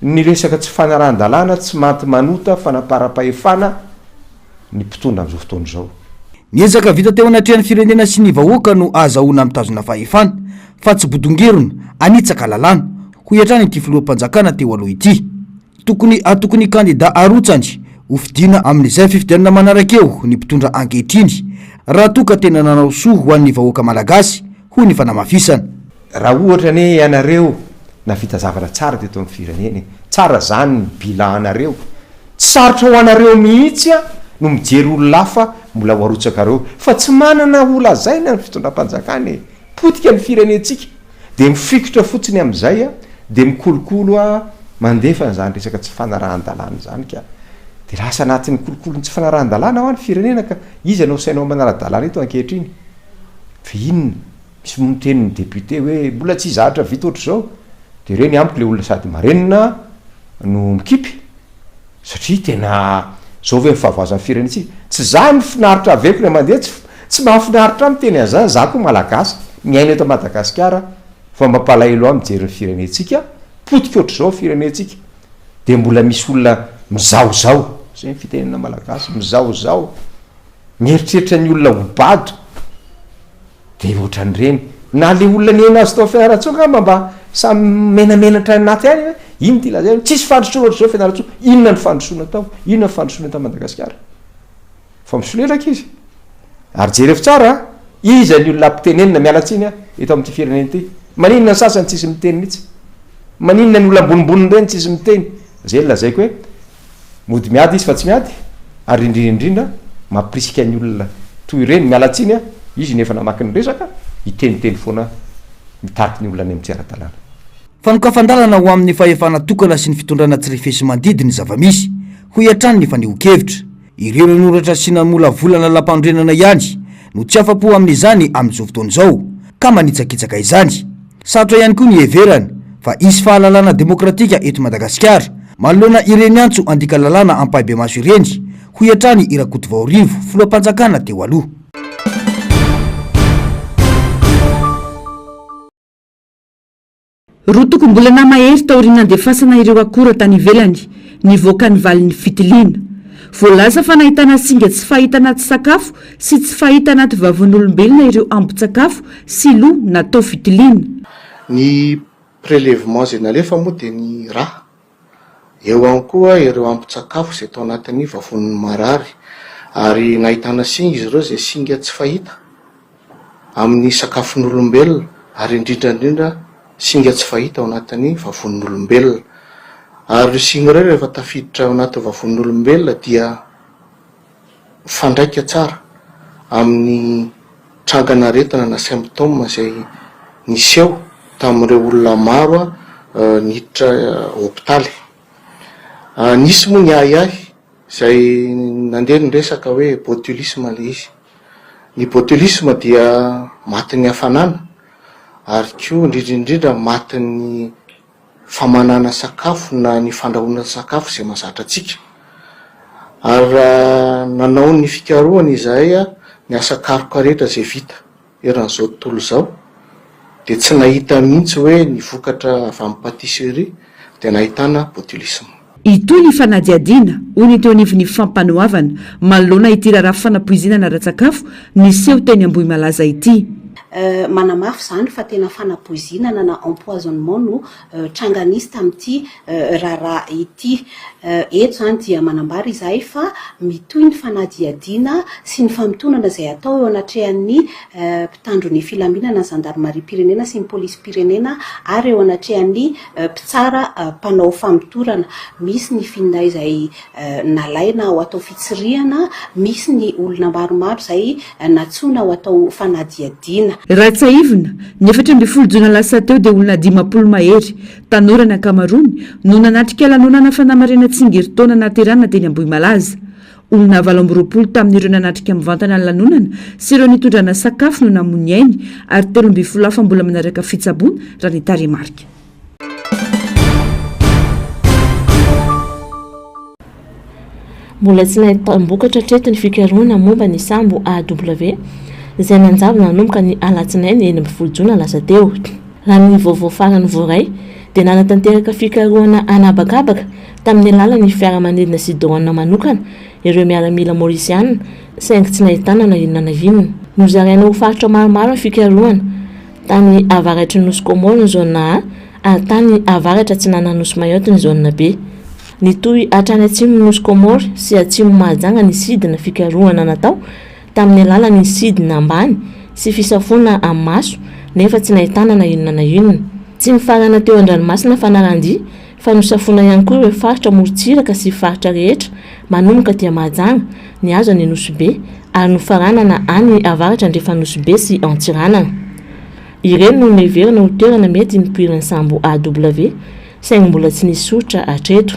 ny resaka tsy fanarahan-dalàna, tsy manti-manota, fanaparam-pahefana, ny mpitondra amin'izao fotoana izao. Ny ezaka vita teo anatrehan'ny firenena sy ny vahoaka no ahazahoana mitazona fahefana, fa tsy bodongerona, hanitsaka lalàna, hoy hatrany ity filoham-panjakana teo aloha ity. Tokony hatoky ny kandidà arotsany ho fidiana amin'izay fifidianana manaraka eo ny mpitondra ankehitriny, raha toa ka tena nanao soa ho an'ny vahoaka malagasy, hoy ny fanamafisana. Raha ohatra anie ianareo navita zavatra tsara teto amin'ny firenena e, tsara zany ny bila anareo, tsy sarotra ho anareo mihitsy a no mijery olona hafa mbola ho arotsakareo fa tsy manana ho lazaina ny fitondram-panjakana e, potika ny firenentsika dia mifikitra fotsiny amin'izay a dia mikolokolo a mandefa an'izany resaka tsy fanarahan-dalàna izany ka dia lasa anatin'ny kolokolon'ny tsy fanarahan-dalàna hoa ny firenena ka iza no asainao manara-dalàna eto ankehitriny fa inona Misy moa miteny ny député hoe mbola tsy zatra vita ohatr'izao dia ireny amiko ilay olona sady marenina no mikipy satria tena zao ve ny fahavoazan'ny firenentsika? Tsy za no finaritra avy eko ilay mandeha tsy tsy mahafinaritra ahy miteny an'izany za koa malagasy miaina eto Madagasikara fa mampalahelo ahy mijery ny firenentsika potika ohatr'izao firenentsika dia mbola misy olona mizahozaho zay ny fitenenana malagasy mizahozaho mieritreritra ny olona ho bado Dia ohatran'ireny. Na le olona nihaino azy tao Fianarantsoa angamba mba samy menamenatra any anaty any hoe ino ty lazainy. Tsisy fandrosoana ohatr'izao Fianarantsoa. Inona ny fandrosoana tao? Inona ny fandrosoana tany Madagasikara? Fa misolelaka izy. Ary jereo tsara a! Iza ny olona ampitenenina, miala tsiny a, eto amin'ity firenena ity? Maninona ny sasany tsisy miteny mihitsy? Maninona ny olona ambonimboniny ireny tsisy miteny? Zay ny lazaiko hoe. Mody miady izy fa tsy miady ary indrindra indrindra mampirisika ny olona toy ireny, miala tsiny a, izy no efa namaky ny resaka, hiteniteny foana mitariky ny olona any amin'ny tsy ara-dalàna. Fanokafan-dalana ho amin'ny fahefana tokana sy ny fitondrana tsy refesi-mandidy ny zava-misy, hoy hatrany ny fanehoan-kevitra. Ireo nanoratra sy namolavola lalampanorenana ihany no tsy afa-po amin'izany amin'izao fotoana izao, ka manitsakitsaka izany. Sarotra ihany koa ny hiheverana fa hisy fahalalana demokratika eto Madagasikara, manoloana ireny antso handika lalàna ampahibemaso ireny, hoy hatrany i Rakotovao Rivo, filoham-panjakana teo aloha. Roa tokom-bolana mahery taorian'ny nandefasana ireo akora tany ivelany, nivoaka ny valin'ny fitiliana. Voalaza fa nahitana singa tsy fahita anaty sakafo sy tsy fahita anaty vavon'olombelona ireo ambin-tsakafo sy lo natao fitiliana. Ny prelevement izay nalefa moa dia ny ra. Eo ihany koa ireo ampin-tsakafo izay tao anatin'ny vavoniny marary ary nahitana singa izy ireo izay singa tsy fahita amin'ny sakafon'olombelona ary indrindra indrindra singa tsy fahita ao anatin'ny vavon'olombelona ary ireo singa ireo rehefa tafiditra ao anatin'ny vavon'olombelona dia mifandraika tsara amin'ny trangan'aretina na symptômes izay niseho tamin'ireo olona maro niditra hopitaly. Nisy moa ny ahiahy izay nandeha ny resaka hoe botulisme ilay izy. Ny botulisme dia matin'ny hafanana ary koa indrindra indrindra matin'ny. famanana sakafo na ny fandrahoana sakafo izay mahazatra antsika. Ary nanao ny fikarohana izahay ny asa karoka rehetra izay vita eran'izao tontolo izao dia tsy nahita mihitsy hoe ny vokatra avy amin'ny patisserie dia nahitana botulisme. Hitohy ny fanadihadiana, hoy ny teo anivon'ny Fampanoavana, manoloana ity raharaha fanapoizinana ara-tsakafo niseho teny Ambohimalaza ity. Manamafy izany fa tena fanapoizinana na empoisonnement no tranga nisy tamin'ity raharaha ity. Eto izany dia manambara izahay fa mitohy ny fanadihadiana sy ny famotonana izay atao eo anatrehan'ny mpitandro ny filaminana, ny zandarimariam-pirenena sy ny polisim-pirenena ary eo anatrehan'ny mpitsara mpanao famotorana, misy ny finday izay nalaina ho atao fitsirihana, misy ny olona maromaro izay nantsoina ho atao fanadihadiana. Raha tsiahivina, ny efatra ambin'ny folo jona lasa teo dia olona dimampolo mahery, tanora ny ankamaroany, no nanatrika lanonana fanamarihana tsingerintaona nahaterahana teny Ambohimalaza. Olona valo amby roapolo tamin'ireo nanatrika mivantana ny lanonana sy ireo nitondrana sakafo no namoy ny ainy ary telo ambin'ny folo hafa mbola manaraka fitsaboana, raha ny tarehimarika. Mbola tsy nahita-tambokatra hatreto ny fikarohana momba ny sambo AW, izay nanjavona nanomboka ny alatsinainy enina ambin'ny folo jona lasa teo. Raha ny vaovao farany voaray, dia nanatanteraka fikarohana an'habakabaka tamin'ny alalan'ny fiaramanidina sy doanina manokana, ireo miaramila Maorisiana, saingy tsy nahitana na inona na inona. Nozaraina ho faritra maromaro ny fikarohana, tany avaratry ny nosy Comore ny Zôna A, ary tany avaratra atsinanan'ny nosy Mayotte ny Zôna B. Nitohy hatrany atsimon'ny nosy Comore sy atsimo Mahajanga ny sidina fikarohana natao, tamin'ny alalan'ny sidina ambany sy fisafoana amin'ny maso, nefa tsy nahitana na inona na inona. Tsy nifarana teo an-dranomasina Fanarandia, fa nosafoina ihany koa ireo faritra morontsiraka sy faritra rehetra manomboka dia Mahajanga nihazo an'i Nosy-Be ary nofaranana any avaratra andrefan' Nosy-Be sy Antsiranana. Ireny no noheverina ho toerana mety nipoiran'ny sambo AW saingy mbola tsy nisy soritra hatreto.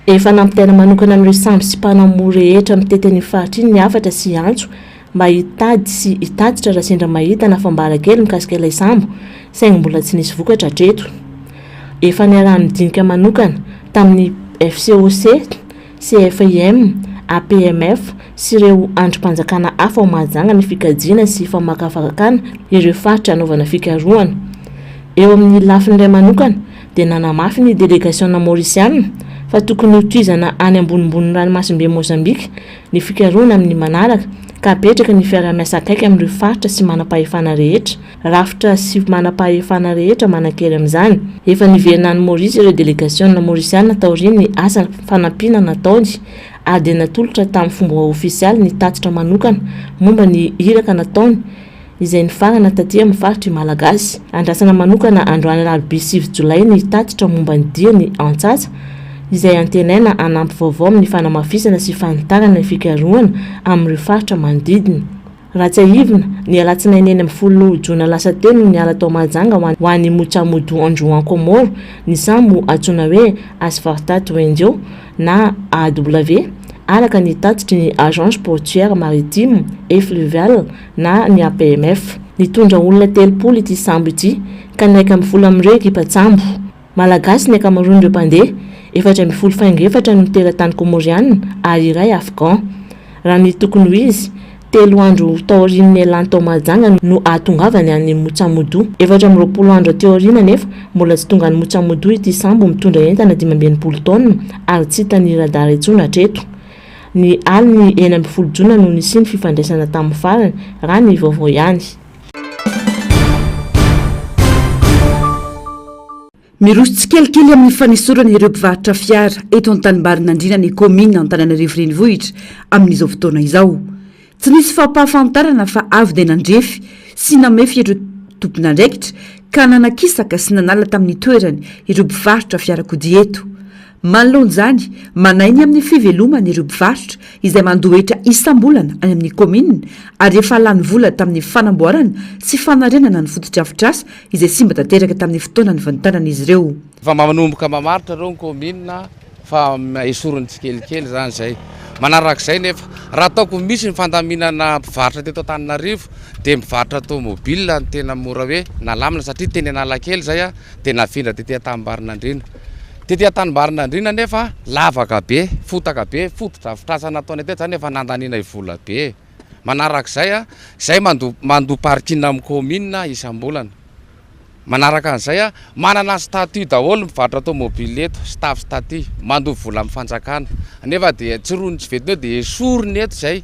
Efa nampitaina manokana amin'ireo sambo sy mpanao moro rehetra mitety an'io faritra io ny hafatra sy antso mba hitady sy hitatitra raha sendra mahita na fambara kely mikasika ilay sambo, saingy mbola tsy nisy vokatra hatreto. Efa niaraha-nidinika manokana tamin'ny FCOC, CFIM, APMF sy ireo andrim-panjakana hafa ao Mahajanga ny fikajiana sy famakafakana ireo faritra hanaovana fikarohana. Eo amin'ny lafiny iray manokana dia nanamafy ny delegasiona maorisiana fa tokony hotohizana any ambonimbony ranomasimbe Mozambika ny fikarohana amin'ny manaraka ka hapetraka ny fiaraha-miasa akaiky amin'ireo faritra sy manam-pahefana rehetra, rafitra sy manam-pahefana rehetra manan-kery amin'izany. Efa niverina any Maorisy ireo delegasiona Maorisiana taorian'ny asa fanampiana nataony ary dia natolotra tamin'ny fomba ofisialy ny tatitra manokana momba ny iraka nataony izay nifarana taty amin'ny faritr' i Malagasy. Andrasana manokana androany alarobia sivy jolay ny tatitra momba ny diany antsatsa, izay antenaina hanampy vaovao amin'ny fanamafisana sy fanitarana ny fikarohana amin'ireo faritra manodidina. Raha tsiahivina, ny alatsinainy enina ambin'ny folo jona lasa teo no niala tao Mahajanga ho any ho any Mutsamudu Androan Komoro ny sambo antsoina hoe Asvarta Tuenjo na AW, araka ny tatitry ny Agence Portuaire Maritime et Fluviale na ny APMF. Nitondra olona telopolo ity sambo ity ka nihaika amin'ny folo amin'ireo ekipan-tsambo. Malagasy ny ankamaroan'ireo mpandeha, efatra ambin'ny folo faingo efatra no teratany Kômôriana ary iray Afghan. Raha ny tokony ho izy, telo andro taorian'ny nialany tao Mahajanga no hahatongavany any Motsamodu. Efatra amby roapolo andro aty aoriana anefa mbola tsy tonga any Motsamodu ity sambo mitondra entana dimy amby enimpolo taonina ary tsy hitan'ny radara intsony hatreto. Ny alin'ny enina ambin'ny folo jona no nisian'ny fifandraisana tamin'ny farany, raha ny vaovao ihany. Miroso tsikelikely amin'ny fanesorana ireo mpivarotra fiara eto an-tanimbarin'Andriana ny kaominina Antananarivo Renivohitra amin'izao fotoana izao. Tsy nisy fampahafantarana fa avy dia nandrefy sy namefy ireo tompon'andraikitra ka nanakisaka sy nanala tamin'ny toerany ireo mpivarotra fiarakodia eto. Manoloana izany, manahy ny amin'ny fivelomany ireo mpivarotra izay mandoa hetra isam-bolana any amin'ny kaominina ary efa lany vola tamin'ny fanamboarana sy fanarenana ny fotodrafitrasa izay simba tanteraka tamin'ny fotoana nivantanan'izy ireo. Efa manomboka mamaritra ireo ny kaominina. Fa esoriny tsikelikely zany zay. Manarak'izay nefa, raha ataoko ho misy ny fandaminana mpivarotra teto Antananarivo dia mpivarotra tomobile no tena mora hoe nalamina satria teny Analakely zay aho dia nafindra tety Antanimbarinandriana. Tety Antanimbarinandriana nefa lavaka be, fotaka be, fotodrafitrasa nataonay teto zany efa nandanianay vola be e. Manarak'izay, zay mandoa parking amin'ny commune isam-bolana. Manaraka an'izay a, manana statut daholo ny mpivarotra tomobile eto, staff statut, mandoa vola amin'ny fanjakana, nefa dia tsy roniny tsy ventiny eo dia esoriny eto izay,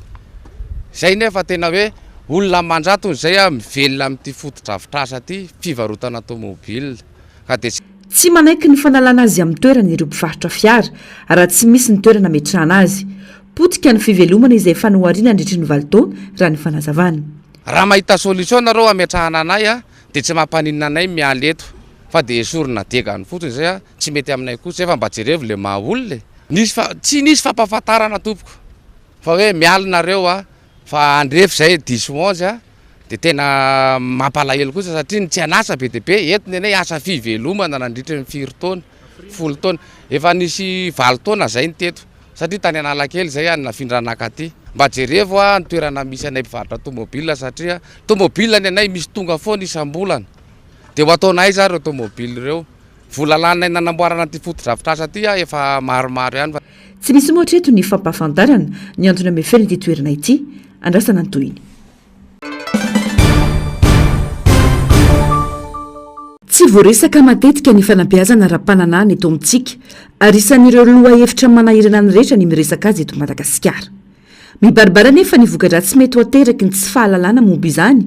izay nefa tena hoe olona aman-jatony izay a, mivelona amin'ity fotodrafitrasa ity, fivarotana tomobile ka dia tsy. Tsy manaiky ny fanalana azy amin'ny toerany ireo mpivarotra fiara, raha tsy misy ny toerana ametrahana azy. Potika ny fivelomana izay efa nohariana handritry ny valo taona, raha ny fanazavana. Raha mahita solution nareo hametrahana anay a, Dia tsy mampaninona anay miala eto fa dia esorina diagany fotsiny izay a! Tsy mety aminay koa izay fa mba jerevo le maha olona e! Nisy fa tsy nisy fampahafantarana tompoko fa hoe miala nareo a! Fa andrefy izay diso onze a! Dia tena mampalahelo kosa satria ny tsy an'asa be dia be eto ny anay asa fivelomana nandritry ny firy taona? Folo taona! Efa nisy valo taona izay ny teto. satria tany Analakely izay aho no nafindra naka aty mba jerevo aho ny toerana misy anay mpivarotra tomobil satria tomobil ny anay misy tonga foana isam-bolana dia ho ataonay aiza ary ireo tomobil ireo? vola lanay nanamboarana ity fotodrafitrasa ity aho efa maromaro ihany. Tsy misy moa hatreto ny fampahafantarana ny antony hameferana ity toerana ity, andrasana ny tohiny. Tsy voaresaka matetika ny fanabeazana ara-pananahana eto amintsika, ary isan'ireo lohahevitra manahirana ny rehetra ny miresaka azy eto Madagasikara. Mibaribary anefa ny voka-dratsy mety ho ateraky ny tsy fahalalana momba izany.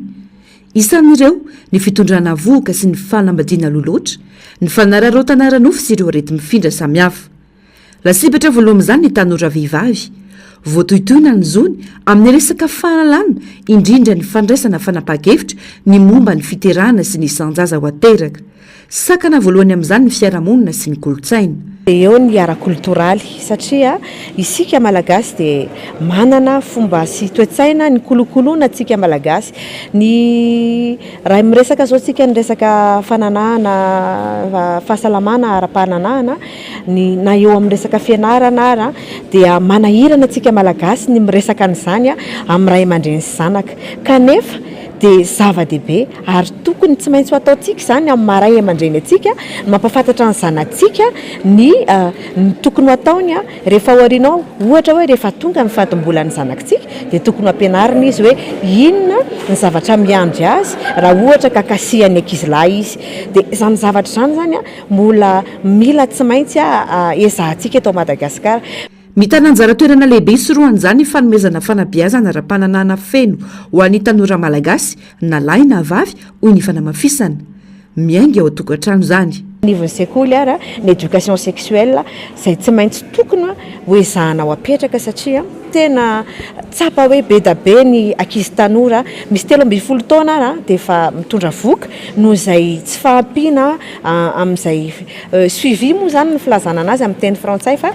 Isan'ireo, ny fitondrana vohoka sy ny fanambadiana aloha loatra, ny fanararaotana ara-nofo sy ireo areti-mifindra samihafa. Lasibatra voaloha amin'izany ny tanora vehivavy. Voatohitohina ny zony amin'ny resaka fahalalana, indrindra ny fandraisana fanapahan-kevitra ny momba ny fiterahana sy ny isan-jaza ho ateraka. Sakana voalohany amin'izany ny fiarahamonina sy ny kolontsaina. Eo ny ara-kolotoraly, satria isika Malagasy dia manana fomba sy toe-tsaina nikolokoloina antsika Malagasy. Ny raha miresaka izao isika ny resaka fananahana fahasalamana ara-pananahana ny na eo amin'ny resaka fianarana ara dia manahirana antsika malagasy ny miresaka an'izany amin'ny ray aman-dreny sy zanaka kanefa dia zava-dehibe ary tokony tsy maintsy ho ataontsika izany amin'ny maha ray aman-dreny antsika mampafantatra ny zanatsika ny ny tokony ho ataony a rehefa ao aorianao ohatra hoe rehefa tonga ny fadim-bolan'ny zanakitsika dia tokony ho ampianarina izy hoe inona ny zavatra miandry azy raha ohatra ka kasihan'ny ankizilahy izy dia izany zavatra izany izany a Mbola mila tsy maintsy ezahantsika eto Madagasikara. Mitana anjara toerana lehibe hisorohan'izany ny fanomezana fanabeazana ara-pananahana feno ho an'ny tanora malagasy, na lahy na vavy, hoy ny fanamafisana. Miainga ao an-tokantrano izany. Anivon'ny sekoly ary ny éducation sexuelle izay tsy maintsy tokony hoezahana ho apetraka satria tena tsapa hoe be dia be ny ankizy tanora misy telo ambin'ny folo taona ary dia efa mitondra vohoka, noho izay tsy fahampiana amin'izay suivi moa izany ny filazana anazy amin'ny teny frantsay fa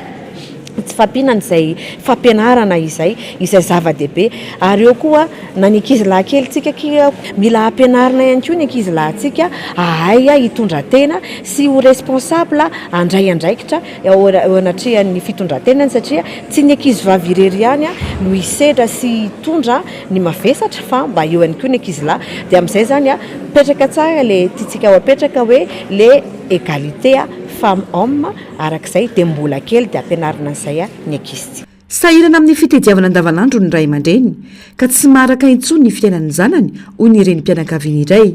tsy fahampiana an'izay fampianarana izay izay zava-dehibe ary eo koa na ny ankizy lahikelitsika akia mila ampianarina ihany koa ny ankizy lahintsika ahay hitondra tena sy ho responsable handray andraikitra eo anatrehan'ny fitondran-tenany satria tsy ny ankizy vavy irery ihany no hisedra sy hitondra ny mavesatra fa mba eo ihany koa ny ankizilahy dia amin'izay izany mipetraka tsara le tiantsika ho apetraka hoe le égalité femme homme araka izay dia mbola kely dia ampianarina an'izay ny ankizy. Sahirana amin'ny fitediavana andavanandro ny ray aman-dreny ka tsy maharaka intsony ny fiainan'ny zanany hoy ny renim-pianakaviana iray.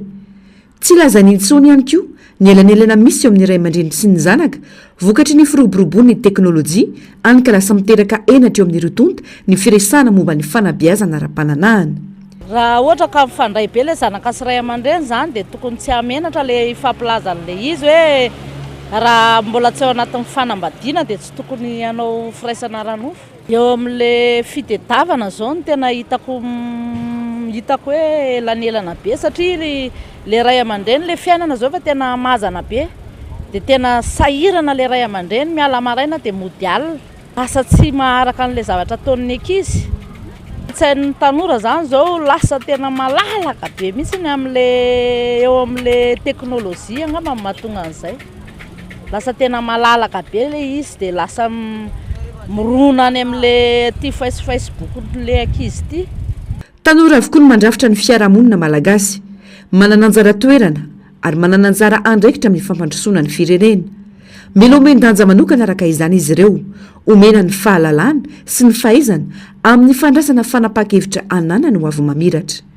Tsy lazany intsony ihany koa ny elanelana misy eo amin'ny ray aman-dreny sy ny zanaka, vokatry ny firoborobon'ny teknolojia, any ka lasa miteraka henatra eo amin'ireo tonta ny firesahana momba ny fanabeazana ara-pananahana. Raha ohatra ka mifandray be ilay zanaka sy ray aman-dreny izany dia tokony tsy hahamenatra ilay hifampilaza an'ilay izy hoe raha mbola tsy ao anatin'ny fanambadiana dia tsy tokony hanao firaisana ara-nofo. Eo amin'le fitedavana zao no tena hitako hitako hoe elanelana be satria ry le ray aman-dreny le fiainana zao efa tena hamazana be de tena sahirana le ray aman-dreny miala maraina de mody alina lasa tsy maharaka an'le zavatra ataon'ny ankizy tsain'ny tanora zany zao lasa tena malalaka be mihitsy ny am'le eo am'le teknolojia angamba no mahatonga an'izay lasa tena malalaka be le izy de lasa mirona any amle ty face facebook le ankizy ty. Tanora avokoa no mandrafitra ny fiarahamonina malagasy. Manana anjara toerana ary manana anjara andraikitra amin'ny fampandrosoana ny firenena. Mila omen-danja manokana araka izany izy ireo, omena ny fahalalana sy ny fahaizana amin'ny fandraisana fanapahan-kevitra ananany ho avy mamiratra.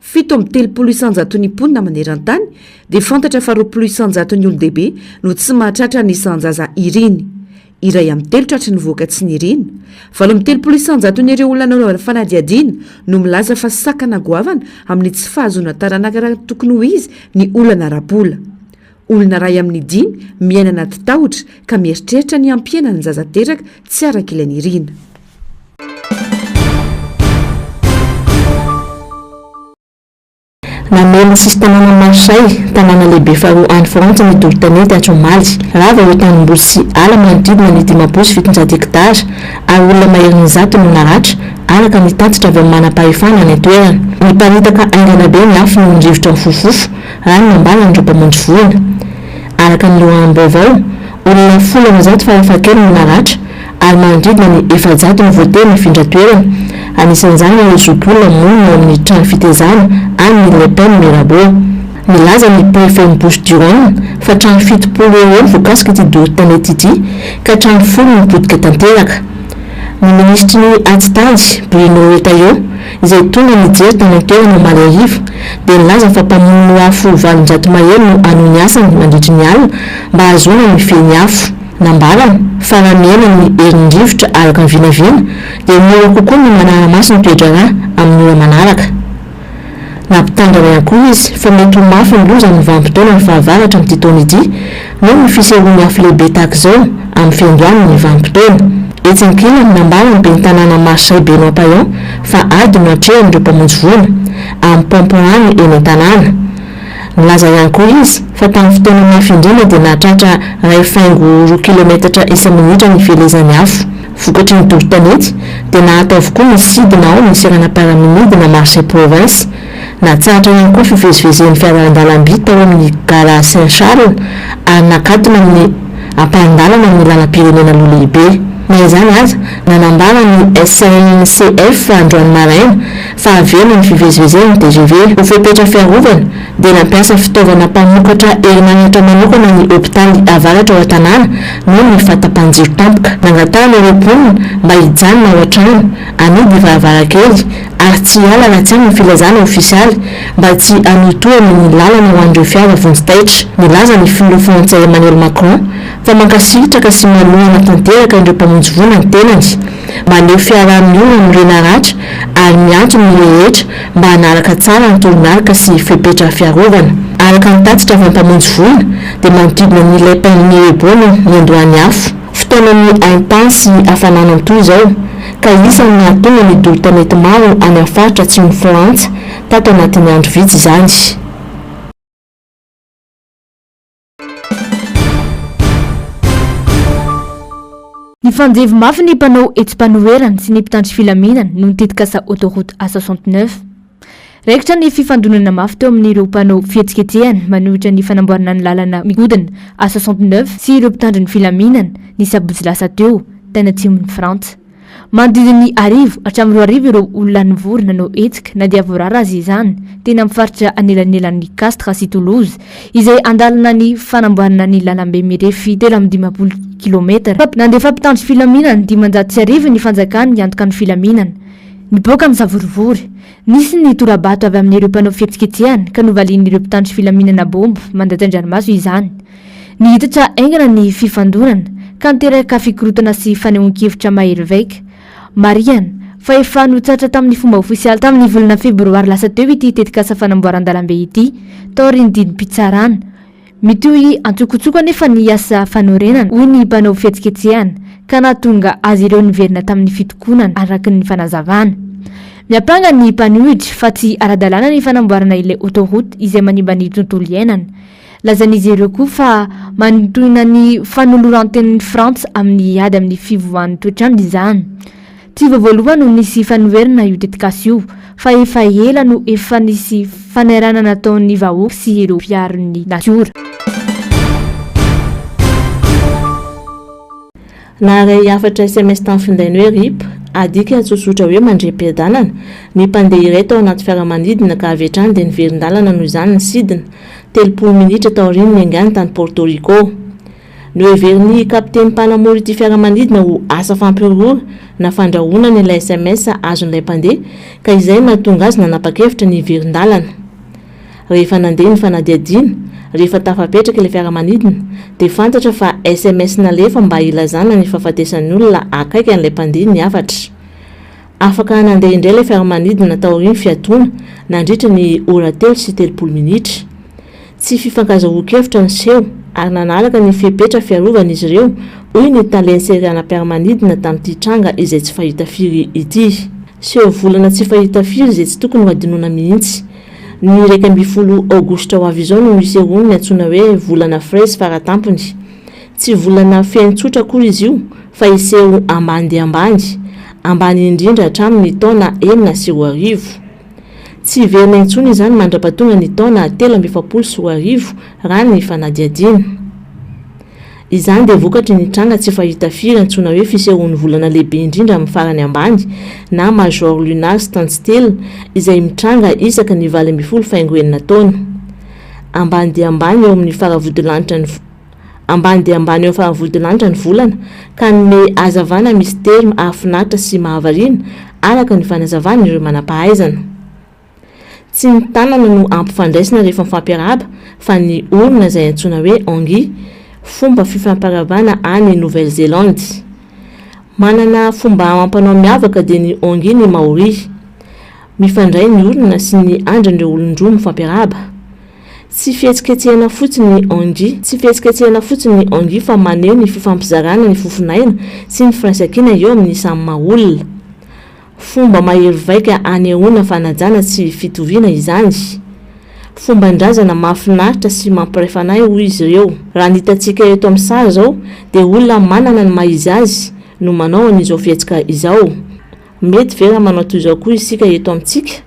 Fito amby telopolo isanjaton'ny mponina maneran-tany dia fantatra fa roapolo isanjaton'ny olon-dehibe no tsy mahatratra ny isan-jaza iriny. Iray amin'ny telo tratry ny vohoka tsy nirina. Valo amby telopolo isanjaton'ireo olona nanaovana fanadihadiana no milaza fa sakana goavana amin'ny tsy fahazoana taranaka raha ny tokony ho izy ny olana ara-bola. Olona iray amin'ny dimy miaina anaty tahotra ka mieritreritra ny hampihena ny zaza teraka tsy araka ilay nirina. Namehy ny sisin-tanàna Marseille, tanàna lehibe faharoa any Frantsa ny doro-tanety atsy omaly. Rava ireo tanimboly sy ala manodidina ny dimampolo sy fitonjato hektara ary olona maherin'ny zato no naratra, araka ny tatitra avy amin'ny manam-pahefana any an-toerana. Niparitaka haingana be ny afo noho ny rivotra mifofofofo Ary nambaran'ireo mpamonjy voina, araka ny loharanom-baovao, olona folo amby zato farafahakeliny no naratra, ary manodidina ny efajato no voatery nifindra toerana, anisan'izany ireo zokiolona monina ao amin'ny trano fitezana any Millepin Mirabeau. Nilaza ny prefen'i Bouches du Rhône fa trano fitopolo eo ho eo no voakasika ity doro-tanety ity, ka trano folo no potika tanteraka. Ny minisitry ny Atitany, Bruno Retailleau, izay tonga nijery tany an-toerana omaly hariva, dia nilaza fa mpamono afo valonjato mahery no hanohy ny asany mandritry ny alina mba hahazoana ny fehiny afo. Nambarany fa raha mihena ny herin'ny rivotra araka ny vinavina dia mora kokoa ny manara-maso ny toe-draharaha amin'ny ora manaraka. Nampitandrina ihany koa izy fa mety ho mafy ny loza amin'ny vanim-potoanan'ny fahavaratra amin'ity taona ity, Noho ny fisian'ny afo lehibe tahaka izao amin'ny fiandohan'ny vanim-potoana. Etsy ankilany, nambaran'ny ben'ny tanàna Marseille Benoît Payan fa ady no atrehan'ireo mpamonjy voina amin'ny paompy rano eny an-tanàna. Nilaza ihany koa izy fa tamin'ny fotoana mafy indrindra dia nahatratra iray faingo roa kilometatra isa-minitra ny fielezan'ny afo. Vokatry ny doro tanety dia nahato avokoa ny sidina ao amin'ny seranam-piaramanidina Marseille Province. Natsahatra ihany koa ny fivezivezen'ny fiarandalamby tao amin'ny Gara Saint Charles ary nakatona ny ampahan-dalana amin'ny lalam-pirenena Aloha Lehibe. Na izany aza, nanambara ny SNCF androany maraina fa haverina ny fivezivezen'ny tgv. Ho fepetra fiarovana, dia nampiasa fitaovana mpamokatra herinaratra manokana ny hopitaly avaratra ao an-tanàna noho ny fahatapahan-jiro tampoka. Nangatahana ireo mponina mba hijanona ao an-trano, hanidy varavarankely ary tsy hiala raha tsy amin'ny filazana ofisialy mba tsy hanohitohana ny lalana ho an'ireo fiara vonjy taitra. Nilaza ny filoha frantsay Emmanuel Macron fa mankasitraka sy manohana tanteraka ireo mpamonjy voina ny tenany, maneho fiaraha-miova amin'ny renaratra ary miantso ny rehetra mba hanaraka tsara ny toromarika sy fepetra fiarovana. Araka ny tatitra avy amin'ny mpamonjy voina dia manodidina ny Les Pins Mirabeau no niandohan'ny afo. Fotoanan'ny haintany sy hafanana toa izao. ka isan'ny nahatonga ny doro tanety maro any amin'ny faritra atsimon'i Frantsa tato anatin'ny andro vitsy izany. Nifanjevo mafy ny mpanao hetsi-panoherana sy ny mpitandro filaminana noho ny tetikasa Autoroute A69. Raikitra ny fifandonana mafy teo amin'ireo mpanao fihetsiketsehana manohitra ny fanamboarana ny lalana migodina A69 sy ireo mpitandro ny filaminana, ny sabotsy lasa teo, tany atsimon'i Frantsa. Manodidina ny arivo hatramin'ny roa arivo ireo olona nivory nanao hetsika na dia voarara aza izany, teny amin'ny faritra anelanelan'i Castres sy Toulouse, izay handalina ny fanamboarana ny lalambe mirefy telo amby dimampolo kilometatra. Nandefa mpitandro filaminana dimanjato sy arivo ny fanjakana hiantoka ny filaminana. Nipoaka misavorovoro. Nisy ny tora-bato avy amin'ireo mpanao fihetsiketsehana ka novalian'ireo mpitandro filaminana baomba mandatsa-dranomaso izany. Niitatra haingana ny fifandonana ka niteraka fikorontana sy fanehoan-kevitra mahery vaika. Marihana fa efa notsatra tamin'ny fomba ofisialy tamin'ny volana febroary lasa teo ity tetikasa fanamboaran-dalambe ity taorian'ny didim-pitsarana. Mitohy antsokotsoko anefa ny asa fanorenana, hoy ny mpanao fihetsiketsehana, ka nahatonga azy ireo niverina tamin'ny fitokonana, araka ny fanazavana. Miampanga ny mpanohitra fa tsy ara-dalàna ny fanamboarana ilay autoroute izay manimba ny tontolo iainana. Lazain'izy ireo koa fa manintohina ny fanoloran-tenin'i Frantsa amin'ny ady amin'ny fivoahan'ny toetrandro izany. Tsy vao voalohany no nisy fanoherana io tetikasa io fa efa ela no efa nisy fanairana nataon'ny vahoaka sy ireo mpiaro ny natiora. Naharay hafatra sms tamin'ny findainy hoe rip, adika tsotsotra hoe mandriam-piadanana, ny mpandeha iray tao anaty fiaramanidina ka avy hatrany dia niverin-dalana noho izany ny sidina, telopolo minitra taorian'ny niaingàny tany Porto Rico. Noheverin'ny kapiteny mpanamory ity fiaramanidina ho asa fampihorohoro na fandrahonana ilay sms azon'ilay mpandeha ka izay no nahatonga azy nanapa-kevitra ny hiverin-dalana. Rehefa nandeha ny fanadihadiana, rehefa tafapetraka ilay fiaramanidina, dia fantatra fa sms nalefa mba hilazana ny fahafatesan'ny olona akaiky an'ilay mpandeha ny hafatra. Afaka nandeha indray ilay fiaramanidina taorian'ny fiatoana, nandritra ny ora telo sy telopolo minitra. Tsy fifankazahoan-kevitra ny seho ary nanaraka ny fepetra fiarovana izy ireo, hoy ny Tale Ntserianampiaramanidina tamin'ity tranga izay tsy fahita firy ity. Seho volana tsy fahita firy izay tsy tokony ho hadinoina mihitsy. Ny iraika ambin'ny folo Aogositra ho avy izao no hisehoany ny antsoina hoe volana Fraise faratampony. Tsy volana feno tsotra akory izy io fa hiseho ambany dia ambany, ambany indrindra hatramin'ny taona enina sy roa arivo. Tsy hiverina intsony izany mandra-pahatonga ny taona telo amby efapolo sy roa arivo, raha ny fanadihadiana. Izany dia vokatry ny tranga tsy fahita firy antsoina hoe fisehoan'ny volana lehibe indrindra amin'ny farany ambany na major lunar standstill izay mitranga isaka ny valo ambin'ny folo faingo enina taona. Ambany dia ambany eo amin'ny faravodilanitra ny Ambany dia ambany eo amin'ny faha-vodilanitra ny volana, ka hanome hazavana misitery mahafinaritra sy mahavariana, araka ny fanazavan'ireo manam-pahaizana. Tsy ny tanana no ampifandraisina rehefa mifampiarahaba, fa ny orona izay antsoina hoe Angi, fomba fifampiarahabana any Nouvelle-Zélande. Manana fomba amam-panao miavaka dia ny Angi ny Maori. Mifandray ny orona sy ny andrin'ireo olon-droa mifampiarahaba. Tsy fihetsiketsehana fotsiny ny Angie. Tsy fihetsiketsehana fotsiny ny Angie fa maneho ny fifampizarana ny fofonaina sy ny firaisankina eo amin'ny samy maha olona. Fomba mahery vaika anehoana fanajana sy fitoviana izany. Fomban-drazana mahafinaritra sy mampiray fanahy hoy izy ireo. Raha ny hitantsika eto amin'ny sary izao dia olona manana ny maha izy azy no manao an'izao fihetsika izao. Mety ve raha manao toy izao koa isika eto amintsika?